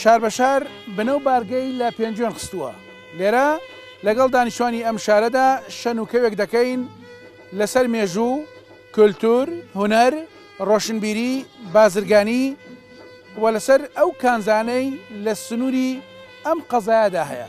شار بە شار بنە و بارگەی لە پێنجوێن خستووە. لێرە لەگەڵ دانیشتوانی ئەم شارەدا شەن و کەوێک دەکەین لەسەر مێژوو، کولتوور، هونەر، ڕۆشنبیری، بازرگانی و لەسەر ئەو کانزانەی لە سنووری ئەم قەزایەدا هەیە.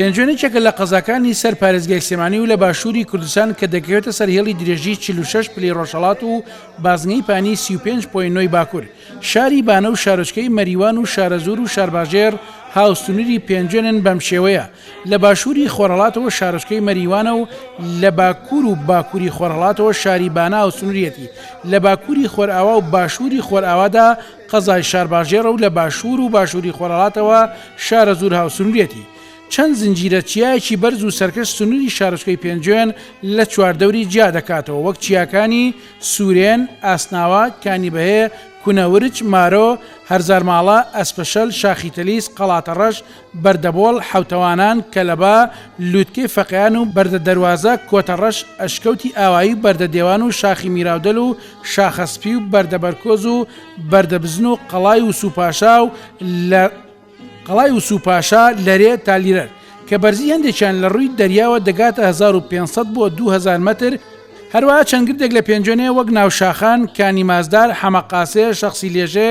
پێنجوێن یەکێکە لە قەزاکانی سەر پارێزگای سلێمانی و لە باشووری کوردستان کە دەکەوێتە سەر هێڵی درێژی 46 پلی ڕۆژهڵات و بازنەی پانی 35.9 باکوور شاری بانە و شارۆچکەی مەریوان و شارەزور و شارباژێر هاوسنووری پێنجوێنن بەم شێوەیە لە باشووری خۆرهەڵاتەوە شارۆچکەی مەریوانە و لە باکوور و باکووری خۆرهەڵاتەوە شاری بانە هاوسنووریەتی، لە باکووری خۆرئاوا و باشووری خۆرئاوادا قەزای شارباژێڕە و لە باشوور و باشووری خۆرهەڵاتەوە شارەزوور هاوسنووریەتی. چەند زنجیرە چیایەکی بەرز و سەرکەش سنووری شارۆچکەی پێنجوێن لە چواردەوری جیا دەکاتەوە وەک چیاکانی، سوورێن، ئاسناوە، کانی بەهێ، کونەورچ، مارۆ، هەرزارماڵە، ئەسپەشەل، شاخی تەلیس، قەڵاتەڕەش، بەردەبۆڵ حەوتەوانان، کەلەبا، لووتکەی فەقێان و بەردە دەروازە، کۆتەڕەش، ئەشکەوتی ئاوایی و بەردە دێوان و شاخی میراودەل و شاخە سپی و بەردە بەرکۆز و بەردە بزن و قەڵای وسوو پاشا و لە قەڵای وسوو پاشا لەرێ تا لیرەر کە بەرزی هەندێکیان لە ڕووی دەریاوە دەگاتە هەزار و پێنج سەد بۆ دوو هەزار مەتر، هەروەها چەند گردێک لە پێنجوێنێ وەک ناوشاخان، کانی مازدار، حەمە قاسێ، شەخسی لێژێ،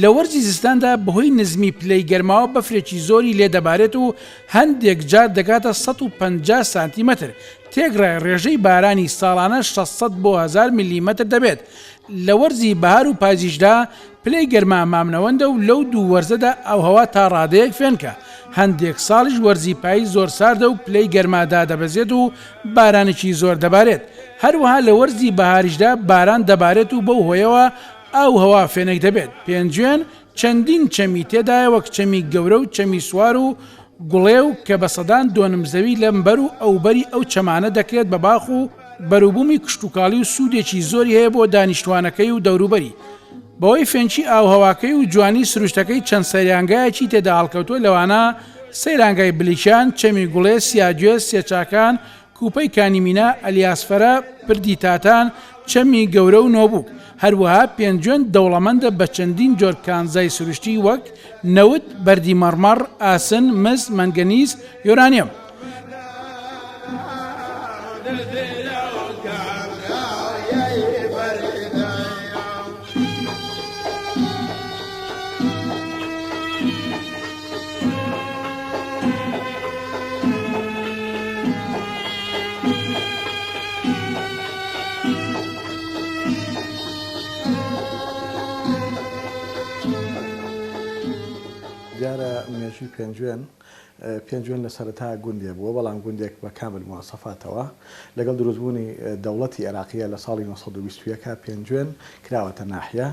لە وەرزی زستاندا بەهۆی نزمی پلەی گەرماوە بەفرێکی زۆری لێ دەبارێت و هەندێک جار دەگاتە سەد و پەنجا سانتیمەتر، تێکڕای ڕێژەی بارانی ساڵانە شەش سەد بۆ هەزار مللیمەتر دەبێت، لە وەرزی بەهار و پایزیشدا پلەی گەرما مامنەوەندە و لەو دوو وەرزەدا ئاووهەوا تا ڕادەیەک فێنکە، هەندێک ساڵیش وەرزی پایز زۆر ساردە و پلەی گەرما دادەبەزێت و بارانێکی زۆر دەبارێت، هەروەها لە وەرزی بەهاریشدا باران دەبارێت و بەو هۆیەوە ئاو و هەوا فێنک دەبێت. پێنجوێن چەندین چەمی تێدایە وەک چەمی گەورە و چەمی سوار و گوڵێو کە بە سەدان دۆنم زەوی لەمبەر و ئەوبەری ئەو چەمانە دەکرێت بە باخ و بەروبومی کشتوکاڵی و سوودێکی زۆری هەیە بۆ دانیشتوانەکەی و دەوروبەری بەوەی فێنکی ئاووهەواکەی و جوانی سروشتەکەی چەند سەیرانگایەکی تێداهەڵکەوتووە لەوانە سەیرانگای بلیکان، چەمی گوڵێ، سیاگوێز، سێچاکان، کوپەی کانی مینا، ئەلیاسفەرە، پردی تاتان، چەمی گەورە و نۆبوک. هەروەها پێنجوێن دەوڵەمەندە بە چەندین جۆر کانزای سروشتی وەک، نەوت، بەردی مەڕمەڕ، ئاسن، مس، مەنگەنیز، یۆرانیۆم. دیارە مێژووی پێنجوێن پێنجوێن لە سەرەتا گوندێ بووە بەڵام گوندێک بە کامل موواسەفاتەوە لەگەڵ دروستبوونی دەوڵەتی عێراقیە لە ساڵی 1920ەکە پێنجوێن کراوەتە ناحیە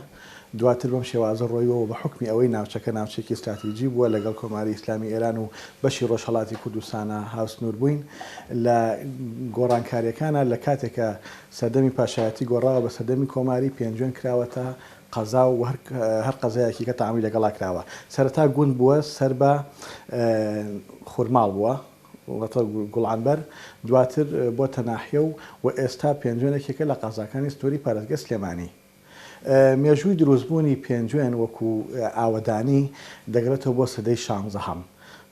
دواتر بەم شێوازە ڕۆیوە و بە حوکمی ئەوەی ناوچەکە ناوچەیەکی ستراتیجی بووە لەگەڵ کۆماری ئیسلامی ئێران و بەشی ڕۆژهەڵاتی کوردستانە هاوسنوور بووین لە گۆڕانکارییەکانا لە کاتێکا سەردەمی پاشایەتی گۆڕاوە بە سەردەمی کۆماری پێنجوێن کراوەتە قەزا و هەر قەزایەکی کە تەعامولی لەگەڵا کراوە سەرەتا گوند بووە سەر بە خورماڵ بووە واتە گوڵانبەر دواتر بۆتە ناحیە و و ئێستا پێنجوێنێکێکە لە قەزاکانی سنووری پارێزگای سلێمانی. مێژووی دروستبوونی پێنجوێن وەکو ئاوەدانی دەگەڕێتەوە بۆ سەدەی شانزەهەم،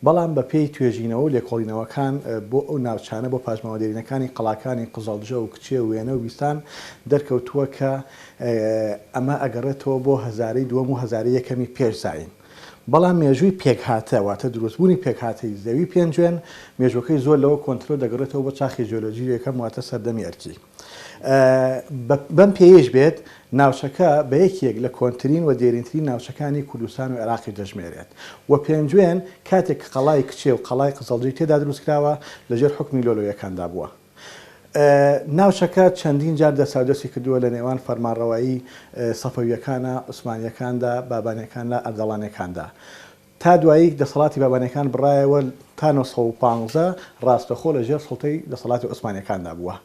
بەڵام بەپێی توێژینەوە و لێکۆڵینەوەکان بۆ ئەو ناوچانە بۆ پاشماوە دێرینەکانی قەڵاکانی قزڵجە و کچێ و وێنە و بیستان دەرکەوتووە کە ئەمە ئەگەڕێتەوە بۆ هەزارەی دووەم و هەزارەی یەکەمی پێش زایین بەڵام مێژووی پێکهاتە واتە دروستبوونی پێکهاتەی زەوی پێنجوێن مێژووەکەی زۆر لەوە کۆنترە و دەگەڕێتەوە بۆ چاخی جیۆلۆجی یەکەم واتە سەردەمی ئەرکی. بەم پێیەیش بێت ناوچەکە بە یەکێک لە کۆنترین و دێرینترین ناوچەکانی کوردستان و عێراقیش دەژمێرێت و پێنجوێن کاتێک کە قەڵای کچێ و قەڵای قزڵجی تێدا دروستکراوە لەژێر حوکمی لۆلۆیەکاندا بووە. ناوچەکە چەندین جار دەستاودەستی کردووە لە نێوان فەرمانڕەوایی سەفەوییەکانە، عوسمانییەکاندا، بابانییەکاندا، ئەردەڵانییەکاندا. تا دوایی دەسەڵاتی بابانیەکان بڕایەوە تا نۆ سەد و پازدە ڕاستەخۆ لە ژێر سوڵتەی دەسەڵاتی عوسمانیەکاندا بووە.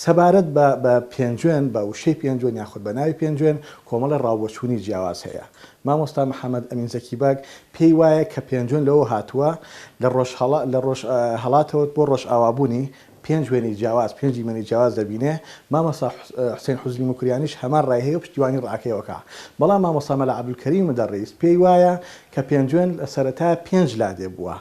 سەبارەت بە بە پێنجوێن، بە وشەی پێنجوێن یاخود بە ناوی پێنجوێن کۆمەڵێ ڕاوبۆچوونی جیاواز هەیە. مامۆستا محەمەد ئەمین زەکی بەگ پێی وایە کە پێنجوێن لەوەوە هاتووە لە ڕۆژ هەڵا لە ڕۆژ هەڵاتەوە بۆ ڕۆژئاوا بوونی پێنج وێنەی جیاواز پێنج دیمەنی جیاواز دەبینێ، مامۆستا حسین حوزری موکریانیش هەمان ڕای هەیە و پشتیوانی ڕاکەی ئەوکا، بەڵام مامۆستا مەلا عەبدولکەریم مدەڕیس پێی وایە کە پێنجوێن لە سەرەتا پێنج لادێ بووە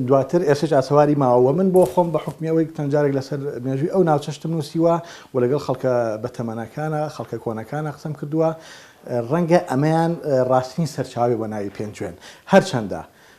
دواتر ئێسش ئاسەواری ماوە وە من بۆ خۆم بە حوکمی ئەوەی چەند جارێک لەسەر مێژووی ئەو ناوچەشتم نووسیوە و لەگەڵ خەڵکە بەتەمەنەکانا خەڵکە کۆنەکانا قسەم کردووە ڕەنگە ئەمەیان ڕاستترین سەرچاوەی بۆ ناوی پێنجوێن هەرچەندە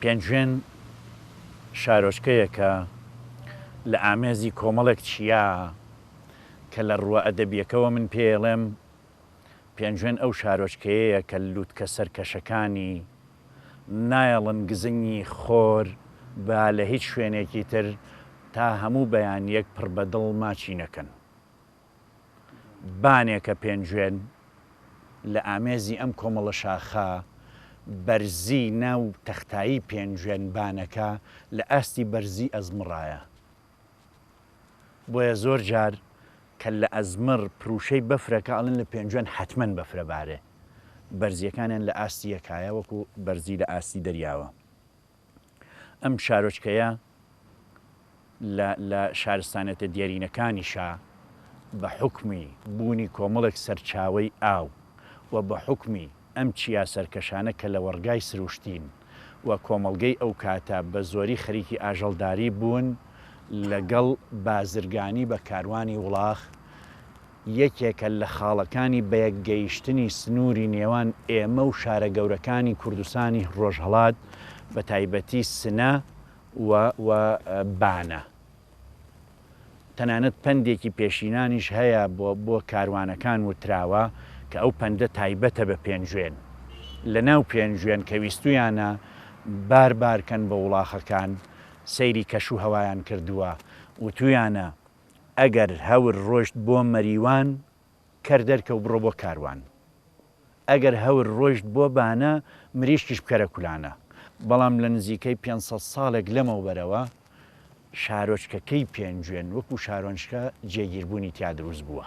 پێنجوێن شارۆچکەیەکە لە ئامێزی کۆمەڵێک چیا کە لە ڕووە ئەدەبییەکەوە من پێیەڵێم پێنجوێن ئەو شارۆچکەیەیە کە لوتکە سەرکەشەکانی نایەڵن گزنگی خۆر با لە هیچ شوێنێکی تر تا هەموو بەیانییەک پڕ بە دڵ ماچی نەکەن. بانێکە پێنجوێن لە ئامێزی ئەم کۆمەڵە شاخە بەرزی ناو تەختایی پێنجوێن بانەکە لە ئاستی بەرزی ئەزمڕایە بۆیە زۆر جار کە لە ئەزمڕ پروشەی بەفرەکە ئەڵن لە پێنجوێن حەتمەن بەفرە بارێ بەرزیەکانیان لە ئاستی یەکایە وەکو بەرزی لە ئاستی دەریاوە. ئەم شارۆچکەیە لە شارستانێتە دێرینەکانیشە بە حوکمی بوونی کۆمەڵێک سەرچاوەی ئاو و بە حوکمی ئەم چیا سەرکەشانە کە لەوەڕگای سروشتین و کۆمەڵگەی ئەو کاتە بە زۆری خەریکی ئاژەڵداری بوون لەگەڵ بازرگانی بە کاروانی وڵاخ یەکێکە لە خاڵەکانی بەیەک گەیشتنی سنووری نێوان ئێمە و شارە گەورەکانی کوردستانی ڕۆژهەڵات بە تایبەتی سنە و و بانە. تەنانەت پەندێکی پێشینانیش هەیە بۆ بۆ کاروانەکان وتراوە کە ئەو پەندە تایبەتە بە پێنجوێن. لە ناو پێنجوێن کە ویستوویانە بار بارکەن بە وڵاخەکان سەیری کەش و هەوایان کردووە وتوویانە، ئەگەر هەور ڕۆشت بۆ مەریوان کەر دەرکەو بڕۆ بۆ کاروان ئەگەر هەور ڕۆشت بۆ بانە مریشکیش بکەرە کولانە بەڵام لە نزیکەی پێنج سەد ساڵێک لەمەوبەرەوە شارۆچکەکەی پێنجوێن وەکو شارۆنچکە جێگیربوونی تیا دروست بووە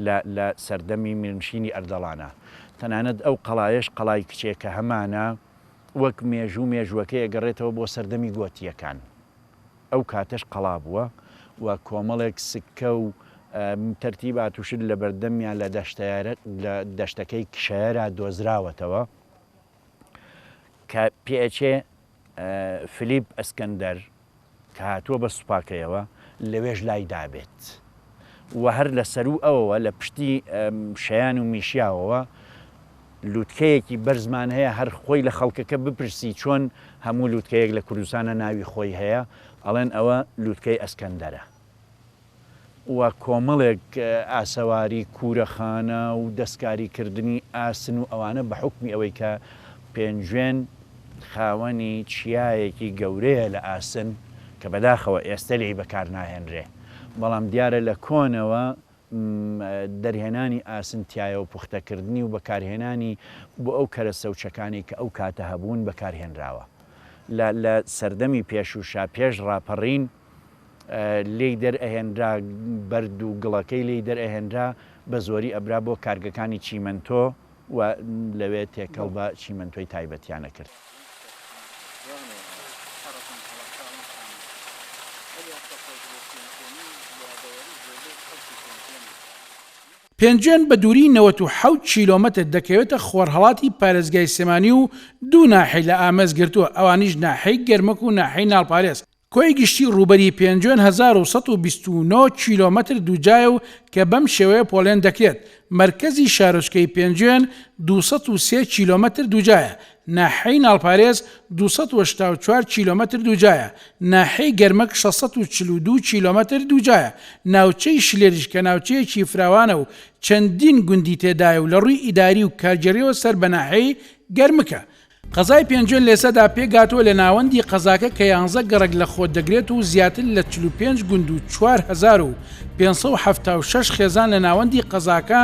لە لە سەردەمی میرنشینی ئەردەڵانە تەنانەت ئەو قەڵایەش قەڵای کچێکە هەمانە وەک مێژوو مێژووەکەی ئەگەڕێتەوە بۆ سەردەمی گۆتییەکان. ئەو کاتەش قەڵا بووە و کۆمەڵێک سکە و تەرتیبات و شت لەبەردەمیان لە دەشتەکەی کشەیەرا دۆزراوەتەوە کە پێچێ فلیپ ئەسکەندەر کە هاتووە بە سوپاکەیەوە لەوێش لای دابێت. و هەر لە سەروو ئەوەوە لە پشتی شیان و میشیاوەوە لوتکەیەکی بەرزمان هەیە هەر خۆی لە خەڵکەکە بپرسی چۆن هەموو لوتکەیەک لە کوردستانە ناوی خۆی هەیە ئەڵێن ئەوە لوتکەی ئەسکەندەرە و کۆمەڵێک ئاسەواری کورەخانە و دەستکاری کردنی ئاسن و ئەوانە بە حکمی ئەوەی کە پێنجوێن خاوەنی چیایەکی گەورەیە لە ئاسن کە بەداخەوە ئێستە لێی بەکار ناهێنرێ. بەڵام دیارە لە کۆنەوە دەرهێنانی ئاسن تایەو پوختەکردنی و بەکارهێنانی بۆ ئەو کەرەستە و چەکانەی کە ئەو کاتە هەبوون بەکارهێنراوە لە لە سەردەمی پێشووشا پێش ڕاپەڕین لێی دەرئەهێنرا بەرد و گڵەکەی لێی دەرئەهێنرا بە زۆری ئەبرا بۆ کارگەکانی چیمەنتۆ و لەوێ تێکەڵ بە چیمەنتۆی تایبەتیان ئەکرد. پێنجوێن بە دووریی نەوەت و حەوت کیلۆمەتر دەکەوێتە خۆرهەڵاتی پارێزگای سلێمانی و دوو ناحیەی لە ئامێز گرتووە، ئەوانیش ناحیەی گەرمک و ناحیەی ناڵپارێز، کۆی گشتی ڕووبەری پێنجوێن هەزار و سەد و بیست و نۆ کیلۆمەتر دووجایە و کە بەم شێوەیە پۆلێن دەکرێت، مەرکەزی شارۆچکەی پێنجوێن دوو سەد و سێ کیلۆمەتر دووجایە، ناحیەی ناڵپارێز دوو سەد و هەشتا و چوار کیلۆمەتر دووجایە، ناحیەی گەرمک شەش سەد و چل و دوو کیلۆمەتر دووجایە، ناوچەی شلێریش کە ناوچەیەکی فراوانە و چەندین گوندی تێدایە و لە ڕووی ئیداری و کارگێڕییەوە سەر بە ناحیەی گەرمکە، قەزای پێنجوێن لێسەدا پێکهاتووە لە ناوەندی قەزاکە کە یانزە گەڕەک لە خۆ دەگرێت و زیاتر لە چل و پێنج گوند و چوار هەزار و پێنج سەد و حەفتا و شەش خێزان لە ناوەندی قەزاکە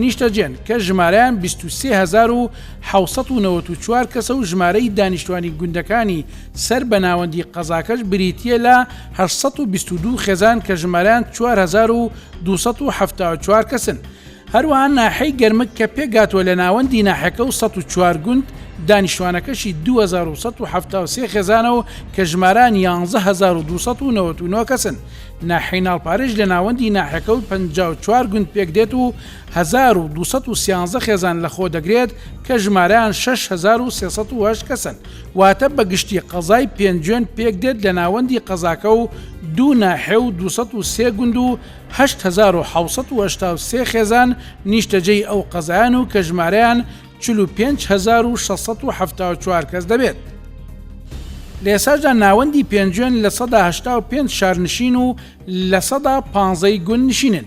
نیشتەجێن کە ژمارەیان بیست و سێ هەزار و حەوت سەد و نەوەد و چوار کەسە و ژمارەی دانیشتوانی گوندەکانی سەر بە ناوەندی قەزاکەش بریتییە لە هەشت سەد و بیست و دوو خێزان کە ژمارەیان چوار هەزار و دوو سەد و حەفتا و چوار کەسن. هەروەها ناحیەی گەرمک کە پێکهاتووە لە ناوەندی ناحیەکە و سەد و چوار گوند، دانیشتووانەکەشی دوو هەزار و سەد و حەفتا و سێ خێزانە و کە ژمارەیان یانزە هەزار و دوو سەد و نەوەد و نۆ کەسن. ناحیەی ناڵپارێش لە ناوەندی ناحیەکە و پەنجا و چوار گوند پێکدێت و هەزار و دوو سەد و سیانزە خێزان لەخۆدەگرێت کە ژمارەیان شەش هەزار و سێ سەد و هەشت کەسن. واتە بە گشتی قەزای پێنجوێن پێکدێت لە ناوەندی قەزاکە و دوو ناحیە و دوو سەد و سێ گوند و هەشت هەزار و حەوت سەد و هەشتا و سێ خێزان نیشتەجێی ئەو قەزایەن و کە ژمارەیان چل و پێنج هەزار و شەش سەد و حەفتا و چوار کەس دەبێت. لە ئێستاشدا ناوەندی پێنجوێن لە سەدا هەشتا و پێنج شارنشین و لە سەدا پانزەی گوندنشینن.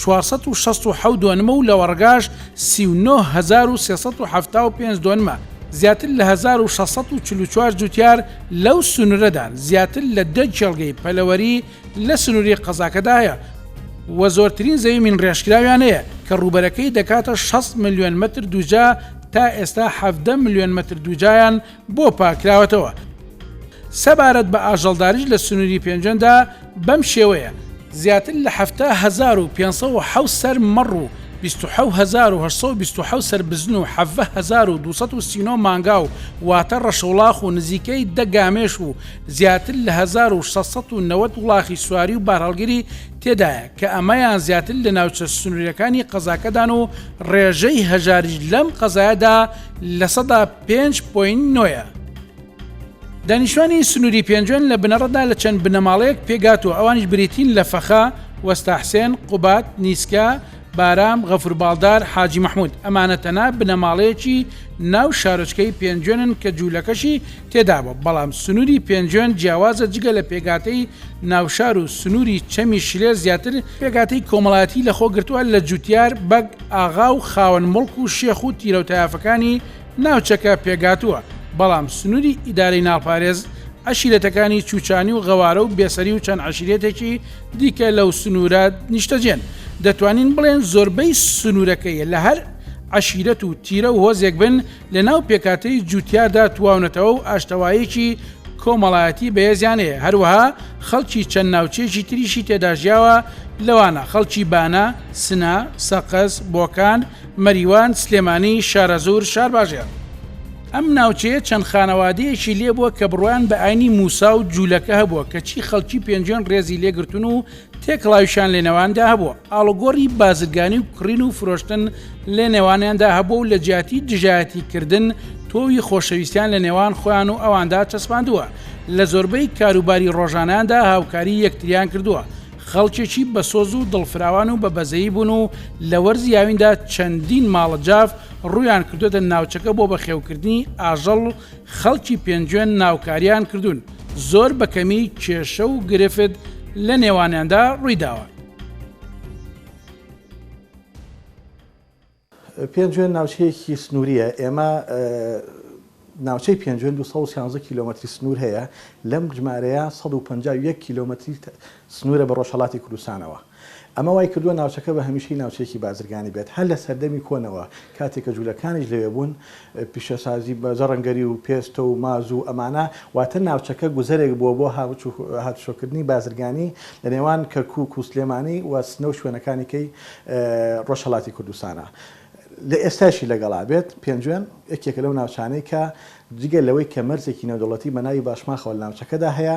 چوار سەد و شەست و حەوت دۆنمە و لەوەڕگاش سی و نۆ هەزار و سێ سەد و حەفتا و پێنج دۆنمە، زیاتر لە هەزار و شەش سەد و چل و چوار جووتیار لەو سنوورەدان، زیاتر لە دە کێڵگەی پەلەوەری لە سنووری قەزاکەدا هەیە و زۆرترین زەوی مینڕێژکراویان هەیە کە ڕووبەرەکەی دەکاتە شەست ملیۆن مەتر دووجا، تا ئێستا حەڤدە ملیۆن مەتر دووجایان بۆ پاکراوەتەوە. سەبارەت بە ئاژەڵداریش لە سنووری پێنجەندا بەم شێوەیە. زیاتر لە حەفتا هەزار و پێنج سەد و حەوت سەر مەڕ و بیست و حەوت هەزار و هەشت سەد و بیست و حەوت سەر بزن و حەڤدە هەزار و دوو سەد و سی و نۆ مانگا و واتە ڕەشوڵاخ و نزیکەی دە گامێش و زیاتر لە هەزار و شەش سەد و نەوەد وڵاخی سواری و بارهەڵگری تێدایە کە ئەمەیان زیاتر لە ناوچە سنووریەکانی قەزاکەدان و ڕێژەی هەژاریش لەم قەزایەدا لە سەدا پێنج پۆینت نۆیە. دانیشتوانی سنووری پێنجوێن لە بنەڕەتدا لە چەند بنەماڵەیەک پێکهاتووە، ئەوانیش بریتین لە فەخا، وەستا حسێن، قوباد، نیسکە، بارام، غەفور باڵدار، حاجی مەحموود. ئەمانە تەنها بنەماڵەیەکی ناو شارۆچکەی پێنجوێنن کە جوولەکەشی تێدابووە، بەڵام سنووری پێنجوێن جیاوازە جگە لە پێکهاتەی ناوشار و سنووری چەمی شلێر زیاتر پێکهاتەی کۆمەڵایەتی لەخۆ گرتووە لە جوتیار، بەگ، ئاغا و خاوەن موڵک و شێخ و تیرەو تایەفەکانی ناوچەکە پێکهاتووە، بەڵام سنووری ئیدارەی ناڵپارێز عەشیرەتەکانی چوچانی و غەوارە و بێسەری و چەند عەشیرەتێکی دیکە لەو سنوورە نیشتەجێن، دەتوانین بڵێن زۆربەی سنوورەکەی لە هەر عەشیرەت و تیرە و هۆزێک بن، لەناو پێکهاتەی جووتیاردا تواونەتەوە و ئاشتەوایەکی کۆمەڵایەتی بەهێزیان هەیە، هەروەها خەڵکی چەند ناوچەیەکی تریشی تێدا ژیاوە لەوانە، خەڵکی بانە، سنە، سەقز، بۆکان، مەریوان، سلێمانی، شارەزوور، شارباژێڕ. ئەم ناوچەیە چەند خانەوادەیەکی لێبووە کە بڕوایان بە ئاینی موسا و جوولەکە هەبووە، کەچی خەڵکی پێنجوێن ڕێزی لێگرتوون و تێکەڵاویشیان لەنێواندا هەبووە، ئاڵوگۆڕی بازرگانی و کڕین و فرۆشتن لەنێوانیاندا هەبووە و لەجیاتی دژایەتیکردن، تۆوی خۆشەویستیان لەنێوان خۆیان و ئەواندا چەسپاندووە، لە زۆربەی کاروباری ڕۆژانەیاندا هاوکاری یەکتریان کردووە، خەڵکێکی بەسۆز و دڵفراوان و بەبەزەیی بوون و لە وەرزی هاویندا چەندین ماڵە جاف ڕوویان کردووەتە ناوچەکە بۆ بەخێوکردنی ئاژەڵ خەڵکی پێنجوێن ناوکاریان کردوون، زۆر بە کەمی کێشە و گرفت لە نێوانیاندا ڕووی داوە. پێنجوێن ناوچەیەکی سنوورییە، ئێمە ناوچەی پێنجوێن دوو سەد و سیانزە کیلۆمەتری سنوور هەیە، لەم ژمارەیە سەد و پەنجا و یەک کیلۆمەتری سنوورە بە ڕۆژهەڵاتی کوردستانەوە، ئەمە وای کردووە ناوچەکە بە هەمیشەی ناوچەیەکی بازرگانی بێت، هەر لە سەردەمی کۆنەوە کاتێک کە جوولەکانیش لەوێ بوون، پیشەسازی بە زەڕەنگەری و پێستە و ماز و ئەمانە، واتە ناوچەکە گوزەرێک بووە بۆ هاتوچۆکردنی بازرگانی لە نێوان کەرکووک و سلێمانی و سنە و شوێنەکانیکەی ڕۆژهەڵاتی کوردستانە لە ئێستایشی لەگەڵا بێت، پێنجوێن یەکێکە لەو ناوچانەی کە جگە لەوەی کە مەرزێکی نێودەوڵەتی بە ناوی باشماخەوە لە ناوچەکەدا هەیە،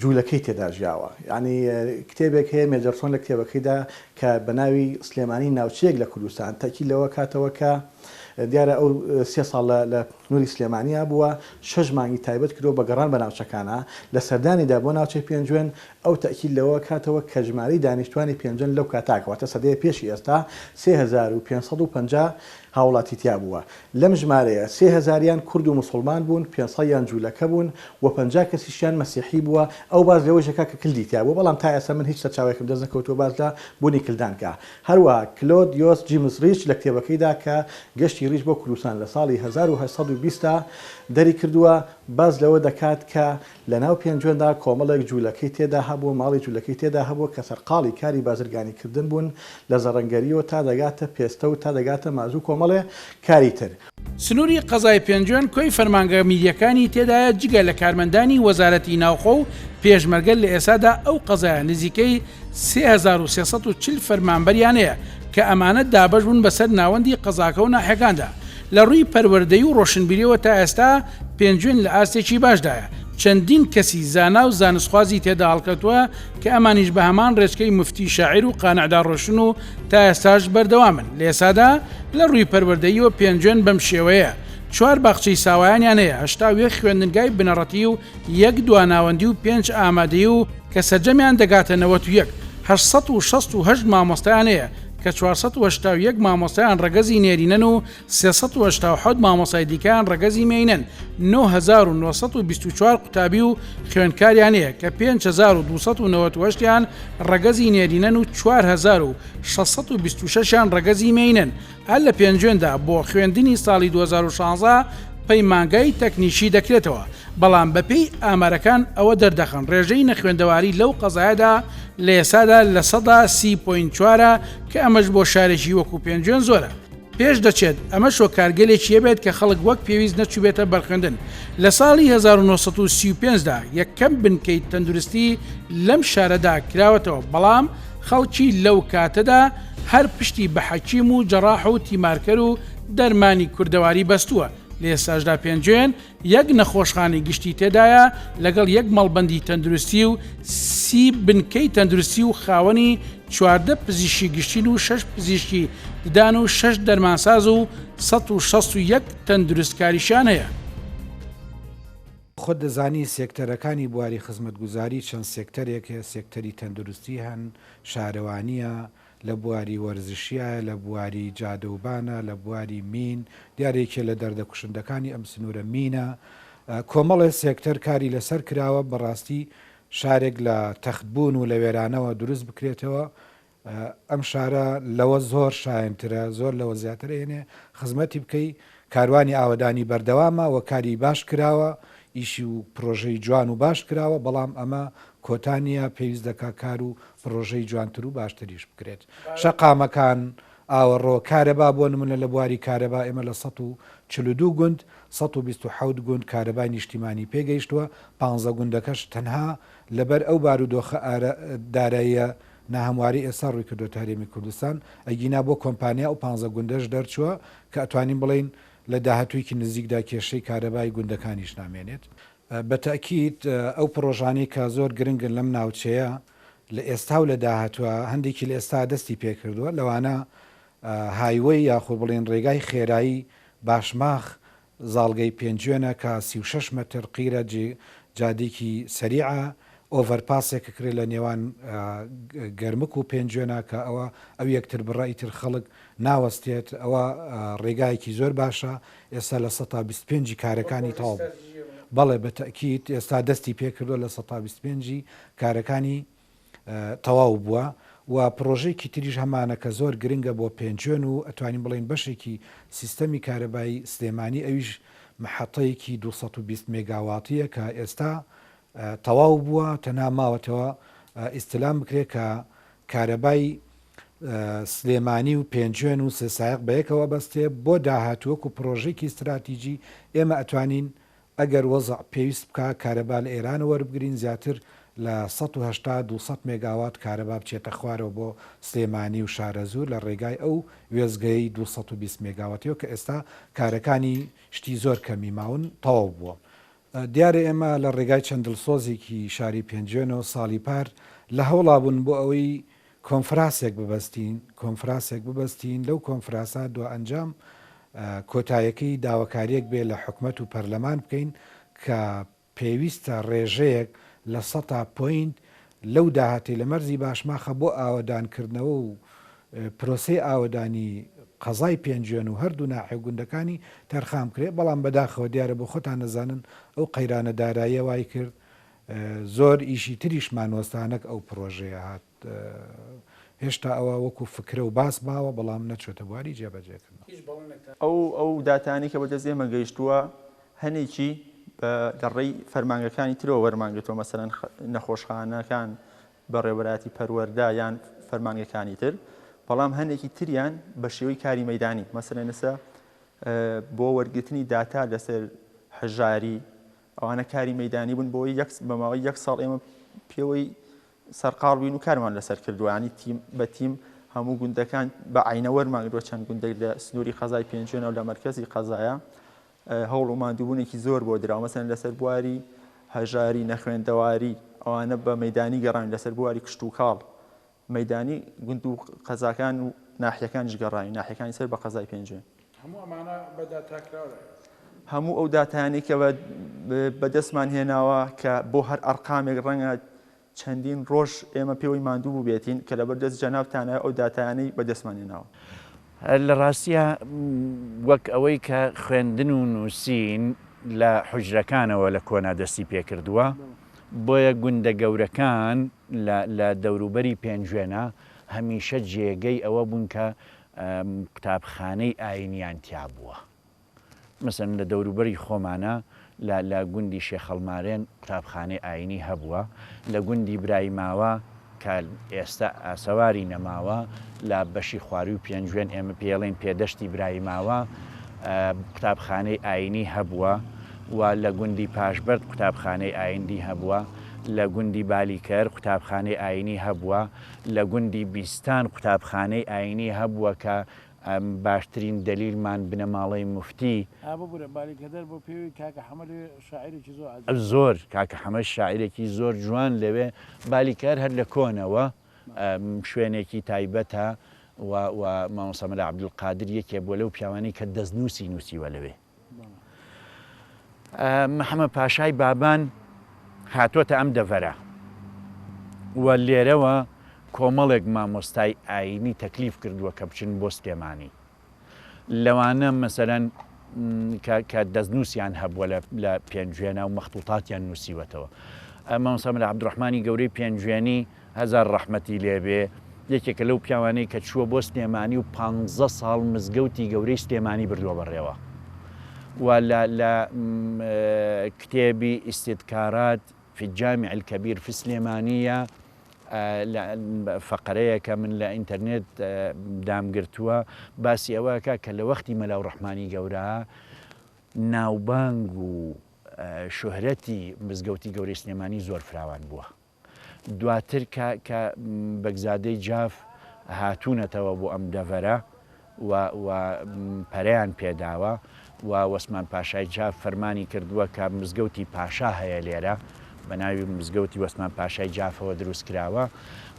جولەکەی تێدا ژیاوە یانی کتێبێک هەیە مێجەرسۆن لە کتێبەکەیدا کە بەناوی سلێمانی ناوچەیەک لە کوردستان تەکی لەوە کاتەوە کە دیارە ئەو سێ ساڵ لە نوری سلێمانیا بووە شەش مانگی تایبەت کرۆ بە گەڕان بە ناوچەکانە لە سەردانیدا بۆ ناوچەی پێنجوێن ئەو تەکی لەوە کاتەوە کە ژماری دانیشتوانی پێنجن لەو کاتاکەوەتە سەدەیە پێشی ئێستا سێ هەزار و پێنج سەد و پەنجا هاوڵاتی تیا بووە لەم ژمارەیە سێ هەزاریان کورد و موسوڵمان بوون، پێنج سەدیان جوولەکە بوون و پەنجا کەسیشیان مەسیحی بووە، ئەو باس لەوەیش دەکات کە کلدی تیا بووە، بەڵام تا ئێستا من هیچ سەرچاوەیەکم دەست نەکەوتووە باس لە بوونی کلدان کا. هەروەها کلۆد یۆس جیمس ڕیچ لە کتێبەکەیدا کە گەشتی ڕیچ بۆ کوردستان لە ساڵی هەزار و هەشت سەد و بیست دا دەری کردووە باس لەوە دەکات کە لەناو پێنجوێندا کۆمەڵێک جوولەکەی تێدا هەبووە، ماڵی جوولەکەی تێدا هەبووە کە سەرقاڵی کاری بازرگانیکردن بوون، لە زەڕەنگەرییەوە تا دەگاتە پێستە و تا دەگاتە مازوو کۆمەڵێ کاری تر. سنووری قەزای پێنجوێن کۆی فەرمانگە میرییەکانی تێدایە، جگە لە کارمەندانی وەزارەتی ناوخۆ و پێشمەرگە لە ئێستادا ئەو قەزایە نزیکەی سێ هەزار و سێ سەد و چل فەرمانبەریان هەیە کە ئەمانە دابەش بوون بەسەر ناوەندی قەزاکە و ناحیەکاندا. لە ڕووی پەروەردەیی و ڕۆشنبیریەوە تا ئێستا پێنجوێن لە ئاستێکی باشدایە، چەندین کەسی زانا و زانستخوازی تێدا هەڵکەوتووە کە ئەمانیش بە هەمان ڕێچکەی موفتی شاعیر و قانعدا ڕۆشتن و تا ئێستاش بەردەوامن. لە ئێستادا لە ڕووی پەروەردەییەوە پێنجوێن بەم شێوەیە، چوار باخچەی ساوایانیان هەیە، هەشتا و یەک خوێندنگای بنەڕەتی و یەک دواناوەندی و پێنج ئامادەیی و کە سەرجەمیان دەگاتە نەوەت و یەک. هەشت سەد و شەست و هەشت مامۆستایان هەیە کە چوار سەد و هەشتا و یەک مامۆستایان ڕەگەزی نێرینەن و سێ سەد و هەشتا و حەوت مامۆستای دیکەیان ڕەگەزی مێینەن، نۆ هەزار و نۆ سەد و بیست و چوار قوتابی و خوێندکاریان هەیە کە پێنج هەزار و دوو سەد و نەوەت و هەشت یان ڕەگەزی نێرینەن و چوار هەزار و شەش سەد و بیست و شەش یان ڕەگەزی مێینەن، هەر لە پێنجوێندا بۆ خوێندنی ساڵی دوو هەزار و شازدە پەیمانگای تەکنیکی دەکرێتەوە، بەڵام بەپێی ئامارەکان ئەوە دەردەخەن رێژەی نەخوێندەواری لەو قەزایەدا لە ئێستادا لە سەدا سی پۆینت چوار ە کە ئەمەش بۆ شارێکی وەکو پێنجوێن زۆرە پێش دەچێت، ئەمەش هۆکارگەلێکی هەبێت کە خەڵک وەک پێویست نەچوبێتە بەرخوێندن، لە ساڵی هەزار و نۆ سەد و سی و پێنج دا یەکەم بنکەی تەندروستی لەم شارەدا کراوەتەوە بەڵام، خەڵکی لەو کاتەدا هەر پشتی بە حەکیم و جەراح و تیمارکەر و دەرمانی کوردەواری بەستووە، لە ئێستاشدا پێنجوێن یەک نەخۆشخانەی گشتی تێدایە لەگەڵ یەک مەڵبەندی تەندروستی و سی بنکەی تەندروستی و خاوەنی چواردە پزیشکی گشتین و شەش پزیشکی ددان و شەش دەرمانساز و سەد و شەست و یەک تەندروستکاریشیان هەیە. خۆت دەزانی سێکتەرەکانی بواری خزمەتگوزاری چەند سێکتەرێک هەیە، سێکتەری تەندروستی هەن، شارەوانییە، لە بواری وەرزشییە، لە بواری جادەوبانە، لە بواری مین، دیارە یەکێ لە دەردە کوشندەکانی ئەم سنوورە مینە. کۆمەڵێ سێکتەر کاری لەسەر کراوە بەڕاستی شارێک لە تەختبوون و لە وێرانەوە دروست بکرێتەوە، ئەم شارە لەوە زۆر شایەنترە زۆر لەوە زیاتر ئەیەنێ خزمەتی بکەی کاروانی ئاوەدانی بەردەوامە وە کاری باش کراوە ئیشی و پرۆژەی جوان و باش کراوە بەڵام ئەمە کۆتا نیە پێویست دەکا کار و پرۆژەی جوانتر و باشتریش بکرێت شەقامەکان ئاوەڕۆ کارەبا بۆ نمونە لە بواری کارەبا ئێمە لە سەد و چل و دوو گوند سەد و بیست و حەوت گوند کارەبای نیشتیمانی پێ گەیشتووە پانزە گوندەکەش تەنها لەبەر ئەو بارودۆخە داراییە ناهەمواری ئێستا ڕووی کردۆتە هەرێمی کوردستان، ئەگینا بۆ کۆمپانیا ئەو پانزە گوندەش دەرچووە کە ئەتوانین بڵێین لە داهاتوویەکی نزیکدا کێشەی کارەبای گوندەکانیش نامێنێت. بە تەئکید ئەو پڕۆژانەی کە زۆر گرنگن لەم ناوچەیە لە ئێستا و لە داهاتووە هەندێکی لە ئێستا دەستی پێکردووە لەوانە هایوەی یاخود بڵێین ڕێگای خێرایی باشماخ زاڵگەی پێنجوێنە کە سی و شەش مەتر قیرە، جادیکی سەریعە، ئۆڤەر پاسێک کە کرێ لە نێوان گەرمک و پێنجوێنە کە ئەوە ئەو یەکتر بڕە ئیتر خەڵک ناوەستێت ئەوە ڕێگایەکی زۆر باشە ئێستا لە سەتا بیست پێنجی کارەکانی تەواو بوو بەڵێ بە تەئکید ئێستا دەستی پێکردوە لە سەتا بیست پێنجی کارەکانی تەواو بووە و پڕۆژەیەکی تریش هەمانە کە زۆر گرنگە بۆ پێنجوێن و ئەتوانین بڵێین بەشێکی سیستەمی کارەبای سلێمانی ئەویش مەحەتەیەکی دوو سەد و بیست مێگاواتیە کە ئێستا تەواو بووە تەنها ماوەتەوە ئیستلام بکرێت کە کارەبای سلێمانی و پێنجوێن و سێسایق بەیەکەوە بەستێ بۆ داهاتووەک و پرۆژێکی استراتیجی ئێمە ئەتوانین ئەگەر وەزع پێویست بکا کارەبا لە ئێرانەوە وەربگرین زیاتر لە سەد و هەشتا دوو سەد مێگاوات کارەبا بچێتە خوارەوە بۆ سلێمانی و شارەزوور لە ڕێگای ئەو وێستگەیەی دوو سەد و بیست مێگاواتیەوە کە ئێستا کارەکانی شتی زۆر کەمی ماون تەواو بووە دیارە ئێمە لە ڕێگای چەند دڵسۆزێکی شاری پێنجوێنەوە ساڵی پار لە هەوڵابوون بۆ ئەوەی کۆنفراسێک ببەستین کۆنفراسێک ببەستین لەو کۆنفراسە دوائەنجام کۆتایەکەی داوەکاریەک بێ لە حکومەت و پەرلەمان بکەین کە پێویستە رێژەیەک لە سەتا پۆینت لەو داهاتەی لە مەرزی باشماخە بۆ ئاوەدان کردنەوە و پرۆسەی ئاوەدانی قەزای پێنجوێن و هەردوو ناحێ و گوندەکانی تەرخان بکرێ بەڵام بەداخەوە دیارە بۆ خۆتان ئەزانن ئەو قەیرانە داراییە وایکرد زۆر ئیشی تریشمان وەستانەک ئەو پرۆژەیە هات هێشتا ئەوە وەکو فکرە و باس ماوە بەڵام نەچۆتە بواری جێبەجێکردنەوە. ئەو داتانەی کە بەدەست ئێمە گەیشتووە هەنێکی لە ڕێی فەرمانگەکانی ترەوە وەرمان گرتووە مەسەلەن نەخۆشخانەکان بەڕێوەبەرایەتی پەروەردە یان فەرمانگەکانی تر بەڵام هەنێکی تریان بە شێوەی کاری مەدانی مەسەلەن ئێستا بۆ وەرگرتنی داتا لەسەر هەژاری ئەوانە کاری مەیدانی بوون بۆی یەک بە ماوەی یەک ساڵ ئێمە پێوەی سەرقاڵ بووین و کارمان لەسەر کردووە ینی تیم بە تیم هەموو گوندەکان بە عینە وەرمانگرۆ چەند گوندێک لە سنووری قەزای پێنجێنەوە لە مەرکزی قەزایە هەوڵ و مادووبوونێکی زۆر بۆ دراومەسەن لەسەر بواری هەژاری نەخوێندەواری ئەوانە بە مەدانی گەڕان لەسەر بواری کشت و کاڵ مەیدانی گوند و قەزاکان و ناحیەکانیش گەڕاین، ناحیەکانی سەر بە قەزای پێنجوێن. هەموو ئەمانە بە داتا کراوە؟ هەموو ئەو داتایانەی کە بە دەستمان هێناوە کە بۆ هەر ئەرقامێک ڕەنگە چەندین ڕۆژ ئێمە پێوەی ماندوو بووبێتین کە لەبەر دەست جەنابتانە ئەو داتایانەی بە دەستمان هێناوە. لە ڕاستیا وەک ئەوەی کە خوێندن و نووسین لە حوجرەکانەوە لە کۆنا دەستی پێ کردووە بۆیە گوندە گەورەکان لە دەوروبەری پێنجوێنە هەمیشە جێگەی ئەوە بوون کە قوتابخانەی ئایینیان تیا بووە. مەسەن لە دەوروبەری خۆمانە لە گوندی شێخەڵمارێن قوتابخانەی ئایینی هەبووە، لە گوندی برای ماوە کە ئێستە ئاسەواری نەماوە لە بەشی خوارووی پێنجوێن ئێمە پێی ئەڵێین پێدەشتی برای ماوە قوتابخانەی ئایینی هەبووە و لە گوندی پاشبەرد قوتابخانەی ئایندی هەبووە. لە گوندی بالیکەر قوتابخانەی ئایینی هەبووە، لە گوندی بیستان قوتابخانەی ئایینی هەبووە کە باشترین دەلیلمان بنەماڵەی موفتی. ئا ببورە بالیکەدەر بۆ پێوەی کاکە حەمە لەوێ شاعیرێکی زۆر عەجیبە. زۆر، کاکە حەمەش شاعیرێکی زۆر جوان لەوێ، بالیکەر هەر لە کۆنەوە شوێنێکی تایبەتە و و مامۆستا مەلا عەبدولقادر یەکێ بووە لەو پیاوانەی کە دەستنووسی نووسیوە لەوێ. محەمەد پاشای بابان هاتۆتە ئەم دەڤەرە و لێرەوە کۆمەڵێک مامۆستای ئاینی تەکلیف کردووە کە بچن بۆ سلێمانی لەوانە مەسەرەن کە دەستنووسیان هەبووە لە پێنجوێنە و مەختوتاتیان نووسیوەتەوە مامۆسا مەلا عبدڕحمانی گەورەی پێنجوێنی هەزار ڕەحمەتی لێبێ یەکێکە لەو پیاوانەی کە چووە بۆ سلێمانی و پانزە ساڵ مزگەوتی گەورەی سلێمانی بردووە بەڕێوە و لە لە کتێبی ئیستیدکارات فی الجامع الکبیر فی سلێمانیە فەقەرەیەکە من لە ئینتەرنێت دامگرتووە باسی ئەوەکە کە لە وەختی مەلا و ڕحمانی گەورە ناوبانگ و شوهرەتی مزگەوتی گەوری سلێمانی زۆر فراوان بووە دواتر کە کە بەگزادەی جاف هاتوونەتەوە بۆ ئەم دەڤەرە و و پەرەیان پێداوە و وەسمان پاشای جاف فەرمانی کردووە کە مزگەوتی پاشا هەیە لێرە بە ناوی مزگەوتی وەسمان پاشای جافەوە دروست کراوە